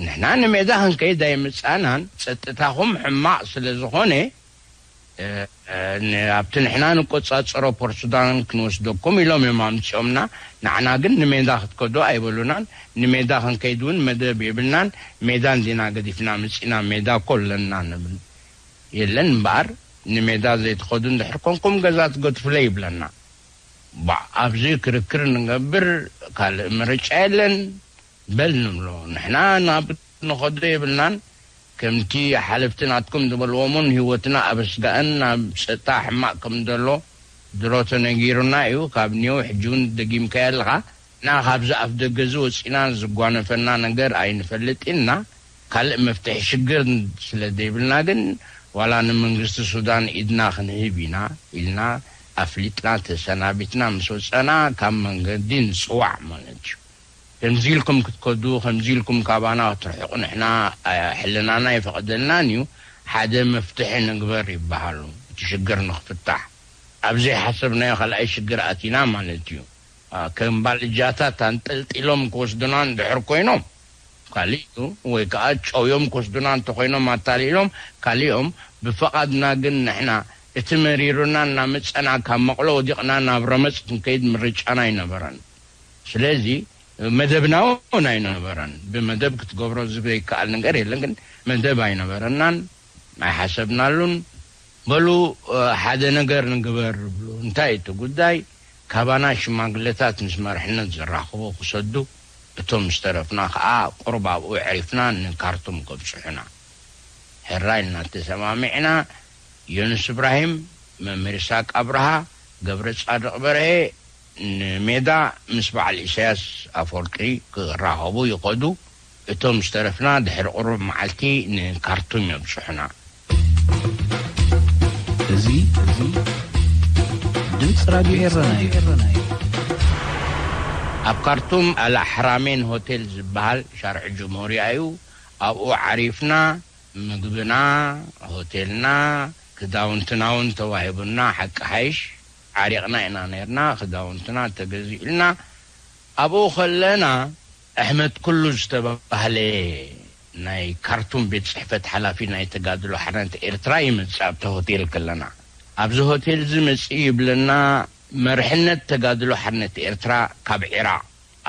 ንሕና ንሜዳ ክንከይድ ኣይመጻእናን ጸጥታኹም ሕማቕ ስለዝኾነ ኣብቲ ንሕና ንቆጻጸሮ ፖርትሱዳን ክንወስደኩም ኢሎም እዮም ኣምጺኦምና፣ ንዓና ግን ንሜዳ ክትከዱ ኣይበሉናን፣ ንሜዳ ክንከይድ እውን መደብ የብልናን፣ ሜዳ እንዲና ገዲፍና መጺእና ሜዳ እኮ ኣለና ንብል፣ የለን እምበኣር ንሜዳ ዘይትኸዱ እንድሕር ኮንኩም ገዛ ትገድፉለይ ይብለና። ባእ ኣብዚ ክርክር ንገብር ካልእ ምርጫ የለን በል ንብሎ ንሕና ናብ። ክንኸዶ የብልናን ከምቲ ሓለፍቲ ናትኩም ዝበልዎም ውን ሂወትና ኣብ ኣስጋእን ናብ ጸጥታ ሕማቅ ከም ደሎ ድሮ ተነጊሩና እዩ ካብ ኔው ሕጂ ውን ደጊምካዮ ኣለኻ እና ካብዚ ኣፍደገ እዚ ወጺና ዝጓነፈና ነገር ኣይንፈልጥን እና ካልእ መፍትሒ ሽግር ስለ ደይብልና ግን ዋላ ንመንግስቲ ሱዳን ኢድና ክንህብ ኢና ኢልና ኣፍሊጥና ተሰናቢትና ምስ ወጸና ካብ መንገዲ ንጽዋዕ ማለት እዩ ከምዚ ኢልኩም ክትከዱ ከምዚ ኢልኩም ካባና ክትርሕቁ ንሕና ሕልናና ኣይፈቅደልናን እዩ ሓደ መፍትሒ ንግበር ይበሃሉ እቲ ሽግር ንክፍታሕ ኣብ ዘይሓሰብናዮ ካልኣይ ሽግር ኣቲና ማለት እዩ ከም ባልጃታት ኣንጠልጢሎም ክወስዱና እንድሕር ኮይኖም ካሊእ እዩ ወይ ከኣ ጨውዮም ክወስዱና እንተኮይኖም ኣታሊሎም ካሊእ እዮም ብፈቃድና ግን ንሕና እቲ መሪሩና እናመጸና ካብ መቅሎ ወዲቅና ናብ ረመጽ ክንከይድ ምርጫና ኣይነበረን ስለዚ መደብናውን ኣይነበረን። ብመደብ ክትገብሮ ዝብዘይከኣል ነገር የለን፣ ግን መደብ ኣይነበረናን፣ ኣይሓሰብናሉን። በሉ ሓደ ነገር ንግበር እብሉ። እንታይ እቲ ጉዳይ? ካባና ሽማግለታት ምስ መርሕነት ዘራኽቡ ክሰዱ፣ እቶም ዝተረፍና ከኣ ቁሩብ ኣብኡ ኣዕሪፍና ንካርቱም ከብጽሑና። ሕራይ ኢልና ተሰማሚዕና፣ ዮኑስ እብራሂም፣ መምህር ይስሃቅ ኣብርሃ፣ ገብረጻድቕ በርሀ፣ ንሜዳ ምስ በዓል ኢሳያስ ኣፍወርቂ ክራኸቡ ይኸዱ፣ እቶም ዝተረፍና ድሕሪ ቁሩብ መዓልቲ ንካርቱም የብጽሑና። እዚ ድምጺ ራድዮ ኤረና እዩ። ኣብ ካርቱም ኣልኣሕራሜን ሆቴል ዝበሃል ሻርዒ ጅምሁርያ እዩ፣ ኣብኡ ዓሪፍና ምግብና፣ ሆቴልና፣ ክዳውንትና'ውን ተዋሂቡና ሓቂ ሓይሽ ዓሪቕና ኢና ነይርና፣ ክዳውንትና ተገዚኡልና ኣብኡ ከለና፣ ኣሕመድ ኩሉ ዝተባህለ ናይ ካርቱም ቤት ጽሕፈት ሓላፊ ናይ ተጋድሎ ሓርነት ኤርትራ ይመጽእ ኣብቲ ሆቴል ከለና። ኣብዚ ሆቴልዚ መጺኡ ይብለና መርሕነት ተጋድሎ ሓርነት ኤርትራ ካብ ዒራቕ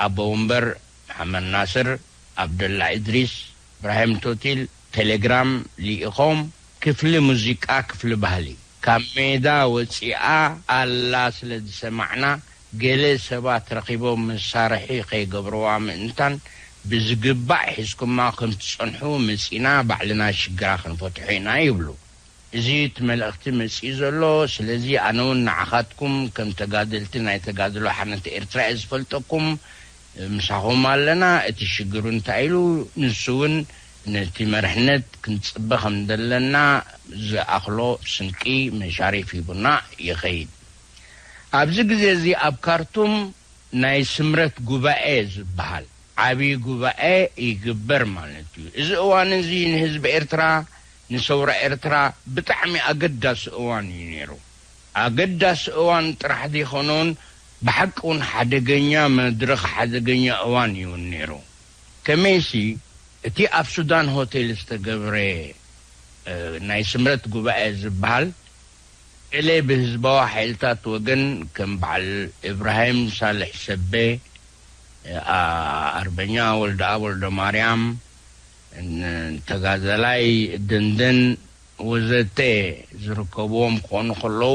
ኣቦ ወንበር መሓመድ ናስር፣ ኣብደላ እድሪስ፣ እብራሂም ቶቲል፣ ቴሌግራም ሊኢኾም ክፍሊ ሙዚቃ ክፍሊ ባህሊ ካብ ሜዳ ወጺኣ ኣላ ስለ ዝሰማዕና ገለ ሰባት ረኺቦም መሳርሒ ከይገብርዋ ምእንታን ብዝግባእ ሒዝኩማ ከም ትጸንሑ መጺና ባዕልና ሽግራ ክንፈትሖ ኢና ይብሉ እዚ እቲ መልእኽቲ መጺኡ ዘሎ ስለዚ ኣነ ውን ንዓኻትኩም ከም ተጋደልቲ ናይ ተጋድሎ ሓርነት ኤርትራ እየ ዝፈልጠኩም ምሳኹም ኣለና እቲ ሽግሩ እንታይ ኢሉ ንሱ ውን ነቲ መርሕነት ክንጽበ ከም ዘለና ዝኣኽሎ ስንቂ መሻሪፍ ሂቡና ይኸይድ። ኣብዚ ግዜ እዚ ኣብ ካርቱም ናይ ስምረት ጉባኤ ዝበሃል ዓቢ ጉባኤ ይግበር ማለት እዩ። እዚ እዋን እዚ ንህዝቢ ኤርትራ ንሰውራ ኤርትራ ብጣዕሚ ኣገዳሲ እዋን እዩ ነይሩ። ኣገዳሲ እዋን ጥራሕ ዘይኮነውን ብሓቂ እውን ሓደገኛ መድረኽ ሓደገኛ እዋን እዩውን ነይሩ። ከመይሲ እቲ ኣብ ሱዳን ሆቴል ዝተገብረ ናይ ስምረት ጉባኤ ዝበሃል ገለ ብህዝባዊ ሓይልታት ወገን ከም በዓል እብራሂም ሳልሕ ሰበ፣ ኣርበኛ ወልደኣብ ወልደማርያም፣ ተጋዳላይ ደንደን ወዘተ ዝርከብዎም ክኾኑ ከለዉ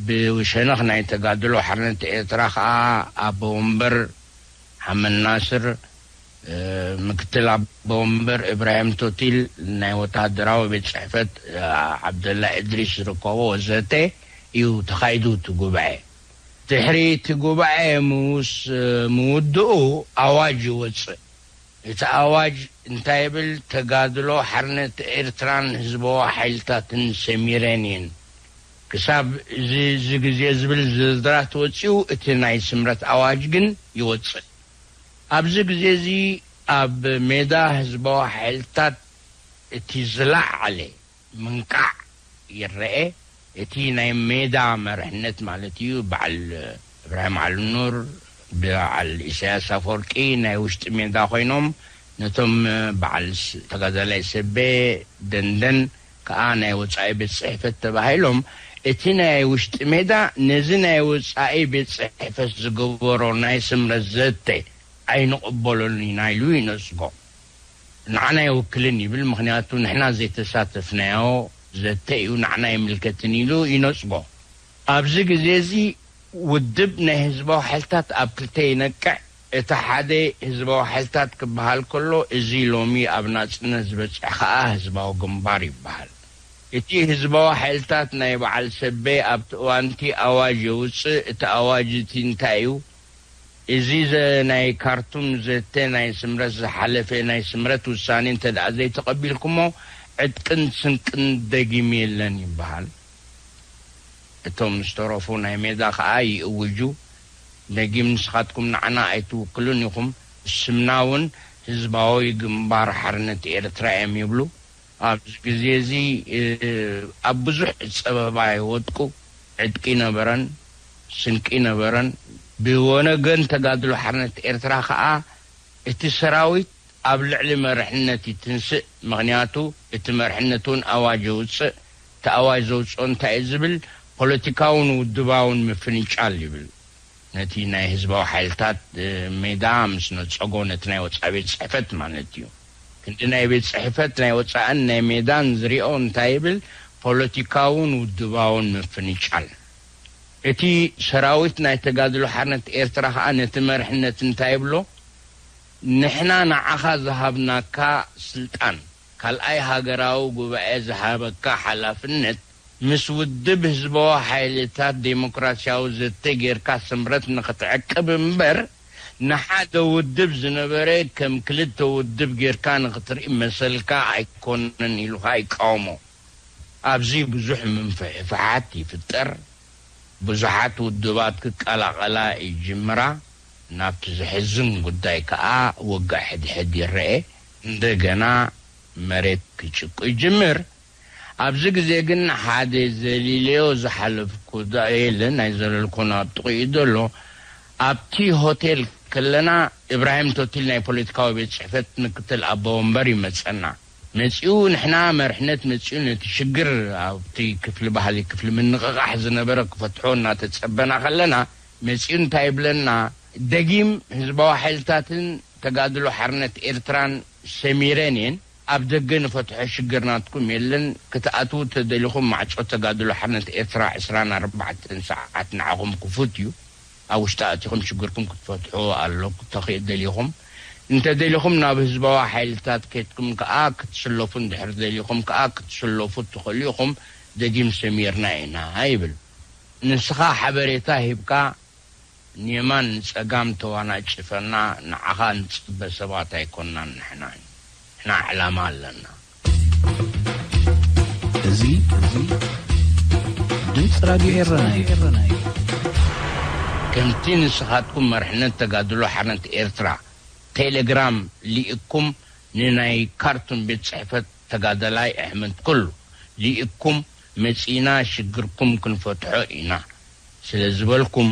ብሸነኽ ናይ ተጋድሎ ሓርነት ኤርትራ ከኣ ኣቦ ወንበር ሓመድ ናስር፣ ምክትል ኣቦወንበር ኢብራሂም ቶቲል፣ ናይ ወተሃደራዊ ቤት ጽሕፈት ዓብደላ እድሪስ ዝርከቦ ወዘተ እዩ ተኻይዱ እቲ ጉባኤ። ድሕሪ እቲ ጉባኤ ምስ ምውድኡ ኣዋጅ ይወጽእ። እቲ ኣዋጅ እንታይ ይብል፣ ተጋድሎ ሓርነት ኤርትራን ህዝባዊ ሓይልታትን ሰሚረን እየን። ክሳብ እዚ እዚ ግዜ ዝብል ዝርዝራት ወጺኡ እቲ ናይ ስምረት ኣዋጅ ግን ይወጽእ። ኣብዚ ግዜ እዚ ኣብ ሜዳ ህዝባዊ ሓይልታት እቲ ዝለዓለ ምንቃዕ ይረኤ። እቲ ናይ ሜዳ መርሕነት ማለት እዩ በዓል እብራሂም ዓሊኑር በዓል ኢሳያስ ኣፈወርቂ ናይ ውሽጢ ሜዳ ኮይኖም ነቶም በዓል ተጋዳላይ ሰቤ ደንደን ከኣ ናይ ወጻኢ ቤት ጽሕፈት ተባሂሎም እቲ ናይ ውሽጢ ሜዳ ነዚ ናይ ወጻኢ ቤት ጽሕፈት ዝገበሮ ናይ ስምረት ዘተ ኣይንቕበሎን ኢና ኢሉ ይነጽጎ። ንዓና ኣይውክልን ይብል ምኽንያቱ ንሕና ዘይተሳተፍናዮ ዘተ እዩ ንዓና ኣይምልከትን ኢሉ ይነጽጎ። ኣብዚ ግዜ እዚ ውድብ ናይ ህዝባዊ ሓይልታት ኣብ ክልተ ይነቅዕ። እቲ ሓደ ህዝባዊ ሓይልታት ክበሃል ከሎ እዚ ሎሚ ኣብ ናጽነት ዝበጽሕ ከኣ ህዝባዊ ግንባር ይበሃል። እቲ ህዝባዊ ሓይልታት ናይ በዓል ሰቤ ኣብቲ እዋንቲ ኣዋጅ የውጽእ እቲ ኣዋጅ እቲ እንታይ እዩ እዚ ዘ ናይ ካርቱም ዘተ ናይ ስምረት ዝሓለፈ ናይ ስምረት ውሳኔ እንተደኣ ዘይተቐቢልኩሞ ዕጥቅን ስንቅን ደጊም የለን ይበሃል። እቶም ዝተረፉ ናይ ሜዳ ከኣ ይእውጁ ደጊም ንስኻትኩም ንዓና ኣይትውክሉን ኢኹም ስምና ውን ህዝባዊ ግንባር ሓርነት ኤርትራ እየም ይብሉ ኣብዚ ግዜ እዚ ኣብ ብዙሕ ጸበባ ይወድቁ ዕጥቂ ነበረን ስንቂ ነበረን ብወነገን ተጋድሎ ሓርነት ኤርትራ ከኣ እቲ ሰራዊት ኣብ ልዕሊ መርሕነት ይትንስእ ምኽንያቱ እቲ መርሕነት እውን ኣዋጅ የውፅእ እቲ ኣዋጅ ዘውፅኦ እንታይ እዩ ዝብል ፖለቲካውን ውድባውን ምፍንጫል ይብል ነቲ ናይ ህዝባዊ ሓይልታት ሜዳ ምስ ነፀጎ ነቲ ናይ ወፃኢ ቤት ፅሕፈት ማለት እዩ ክንዲ ናይ ቤት ፅሕፈት ናይ ወፃእን ናይ ሜዳን ዝሪኦ እንታይ ይብል ፖለቲካውን ውድባውን ምፍንጫል እቲ ሰራዊት ናይ ተጋድሎ ሓርነት ኤርትራ ከዓ ነቲ መርሕነት እንታይ ይብሎ ንሕና ንዓኻ ዝሃብናካ ስልጣን፣ ካልኣይ ሃገራዊ ጉባኤ ዝሃበካ ሓላፍነት፣ ምስ ውድብ ህዝባዊ ሓይልታት ደሞክራሲያዊ ዘተ ጌርካ ስምረት ንኽትዕቅብ እምበር፣ ንሓደ ውድብ ዝነበረ ከም ክልተ ውድብ ጌርካ ንኽትርኢ መሰልካ ኣይኮነን ኢሉኻ ይቃወሞ። ኣብዚ ብዙሕ ምንፍሕፋሓት ይፍጠር፣ ብዙሓት ውድባት ክቀላቐላ ይጅምራ፣ ናብቲ ዘሕዝን ጉዳይ ከኣ ወግእ ሕድሕድ ይረኤ፣ እንደገና መሬት ክጭቁ ይጅምር፣ ኣብዚ ግዜ ግን ሓደ ዘሊለዮ ዝሓለፍኩ ዳኤለ ናይ ዘለልኩን ኣብ ጥቕኡ ዘሎ፣ ኣብቲ ሆቴል ከለና ኢብራሂም ቶቲል ናይ ፖለቲካዊ ቤት ጽሕፈት ምክትል ኣቦ ወንበር ይመጸና። መጺኡ ንሕና መርሕነት መጺኡ ነቲ ሽግር ኣብቲ ክፍሊ ባህሊ ክፍሊ ምንቕቓሕ ዝነበረ ክፈትሖ እናተጸበና ከለና መጺኡ እንታይ ይብለና ደጊም ህዝባዊ ሓይልታትን ተጋድሎ ሓርነት ኤርትራን ሰሚረን እየን ኣብ ደገ ንፈትሖ ሽግር ናትኩም የለን ክትኣትዉ ተደሊኹም ማዕጾ ተጋድሎ ሓርነት ኤርትራ ዕስራን ኣርባዕተን ሰዓት ንዓኹም ክፉት እዩ ኣብ ውሽጣ ኣእቲኹም ሽግርኩም ክትፈትሑ ኣሎ ተኺእ ደሊኹም እንተ ደሊኹም ናብ ህዝባዊ ሓይልታት ከድኩም ከኣ ክትስለፉ እንድሕር ደሊኹም ከኣ ክትስለፉ እትኽእሉ ኢኹም ደጊም ሰሚርና ኢና ይብል ንስኻ ሓበሬታ ሂብካ ንየማን ንጸጋም ተዋናጭፈና ንዓኻ እንጽበ ሰባት ኣይኮናን ንሕና ንሕና ዕላማ ኣለና። እዚ ድምፂ ራድዮ ኤረና እዩ። ከምቲ ንስኻትኩም መርሕነት ተጋድሎ ሓርነት ኤርትራ ቴለግራም ሊእኩም ንናይ ካርቱም ቤት ጽሕፈት ተጋዳላይ ኣሕመድ ኩሉ ሊእኩም መጺና ሽግርኩም ክንፈትሖ ኢና ስለ ዝበልኩም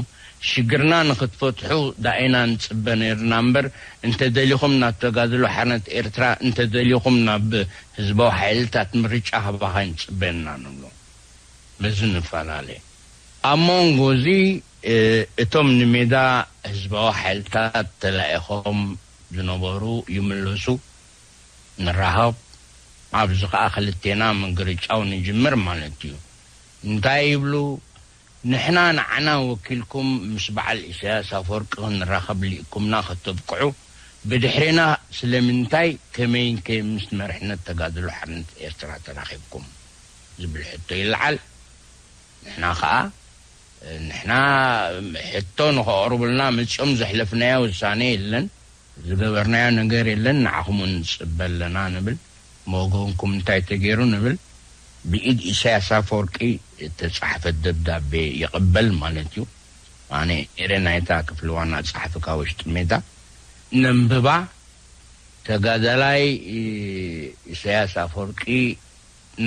ሽግርና ንክትፈትሑ ዳኢና ንጽበ ነይርና እምበር እንተደሊኹም ናብ ተጋድሎ ሓርነት ኤርትራ እንተደሊኹም ናብ ህዝባዊ ሓይልታት ምርጫ ሃባኻ ኣይንጽበን እና ንብሎ በዚ ንፈላለ ኣብ ሞንጎ እዚ እቶም ንሜዳ ህዝባዊ ሓይልታት ተላኢኾም ዝነበሩ ይምለሱ ንራሃብ ኣብዚ ከኣ ክልቴና ምግርጫው ንጅምር ማለት እዩ እንታይ ይብሉ ንሕና ንዓና ወኪልኩም ምስ በዓል ኢሳያስ ኣፎርቂ ክንራከብ ሊእኩምና ከተብቅዑ ብድሕሬና ስለምንታይ ከመይን ከ ምስ መርሕነት ተጋድሎ ሓርነት ኤርትራ ተራኪብኩም ዝብል ሕቶ ይለዓል ንሕና ከኣ ንሕና ሕቶ ንከቅርቡልና መጺኦም ዘሕለፍናዮ ውሳኔ የለን ዝገበርናዮ ነገር የለን ንዓኹም ውን ንጽበ ኣለና ንብል ብወገንኩም እንታይ ተገይሩ ንብል ብኢድ ኢሳያስ ኣፈወርቂ እተጻሕፈት ደብዳቤ ይቕበል ማለት እዩ ኣነ ነይረ ናይታ ክፍሊ ዋና ጸሓፊ ካብ ወሽጢ ሜዳ ነንብባ ተጋዳላይ ኢሳያስ ኣፈወርቂ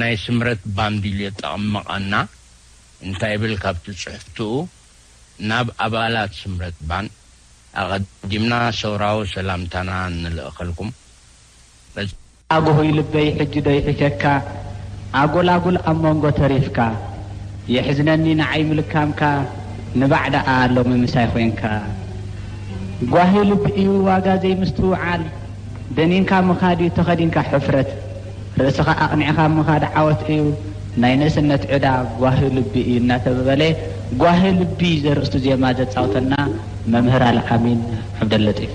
ናይ ስምረት ባምቢልዮ ጠቕምቐና እንታይ ይብል ካብቲ ጽሕፍትኡ ናብ ኣባላት ስምረት ባን ኣቐዲምና ሰውራዊ ሰላምታና ንልእኸልኩም በዚ ኣግሁይ ልበይ ሕጂ ዶ ይሒተካ ኣጎላጉል ኣብ መንጎ ተሪፍካ የሕዝነኒ ንዓይ ምልካምካ ንባዕ ደኣ ሎሚ ምሳይ ኮንካ ጓሂ ልቢ እዩ ዋጋ ዘይምስትውዓል ደኒንካ ምኻድ እዩ ተኸዲንካ ሕፍረት ርእስኻ ኣቕኒዕኻ ምኻድ ዓወት እዩ፣ ናይ ንእስነት ዕዳ ጓሂ ልቢ እዩ እናተበበለ ጓሂ ልቢ ዘርእስቱ ዜማ ዘጻውተና መምህር ኣልኣሚን ዓብደለጢፍ።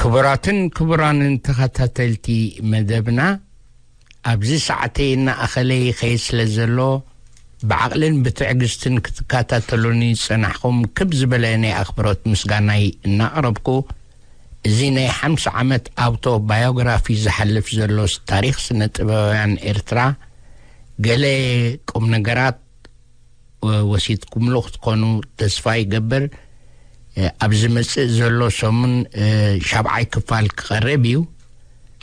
ክቡራትን ክቡራንን ተኸታተልቲ መደብና ኣብዚ ሰዓተይ እናኣኸለ ይኸይድ ስለ ዘሎ ብዓቕልን ብትዕግስትን ክትከታተሉኒ ዝጸናሕኹም ክብ ዝበለ ናይ ኣኽብሮት ምስጋናይ እናቕረብኩ እዚ ናይ ሓምሳ ዓመት ኣውቶ ባዮግራፊ ዝሓልፍ ዘሎስ ታሪኽ ስነ ጥበባውያን ኤርትራ ገለ ቁም ነገራት ወሲድኩምሉ ክትኮኑ ተስፋ ይገብር ኣብ ዝመጽእ ዘሎ ሰሙን ሻብዓይ ክፋል ክቐርብ እዩ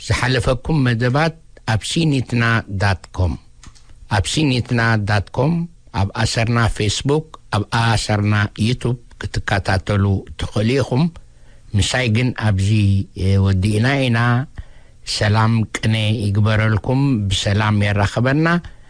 ዝሓለፈኩም መደባት ኣብ ሲኒትና ዳት ኮም ኣብ ሲኒትና ዳት ኮም ኣብ ኣሰርና ፌስቡክ ኣብ ኣሰርና ዩቱብ ክትከታተሉ ትኽእሉ ኢኹም ምሳይ ግን ኣብዚ ወዲእና ኢና ሰላም ቅነ ይግበረልኩም ብሰላም የራኽበና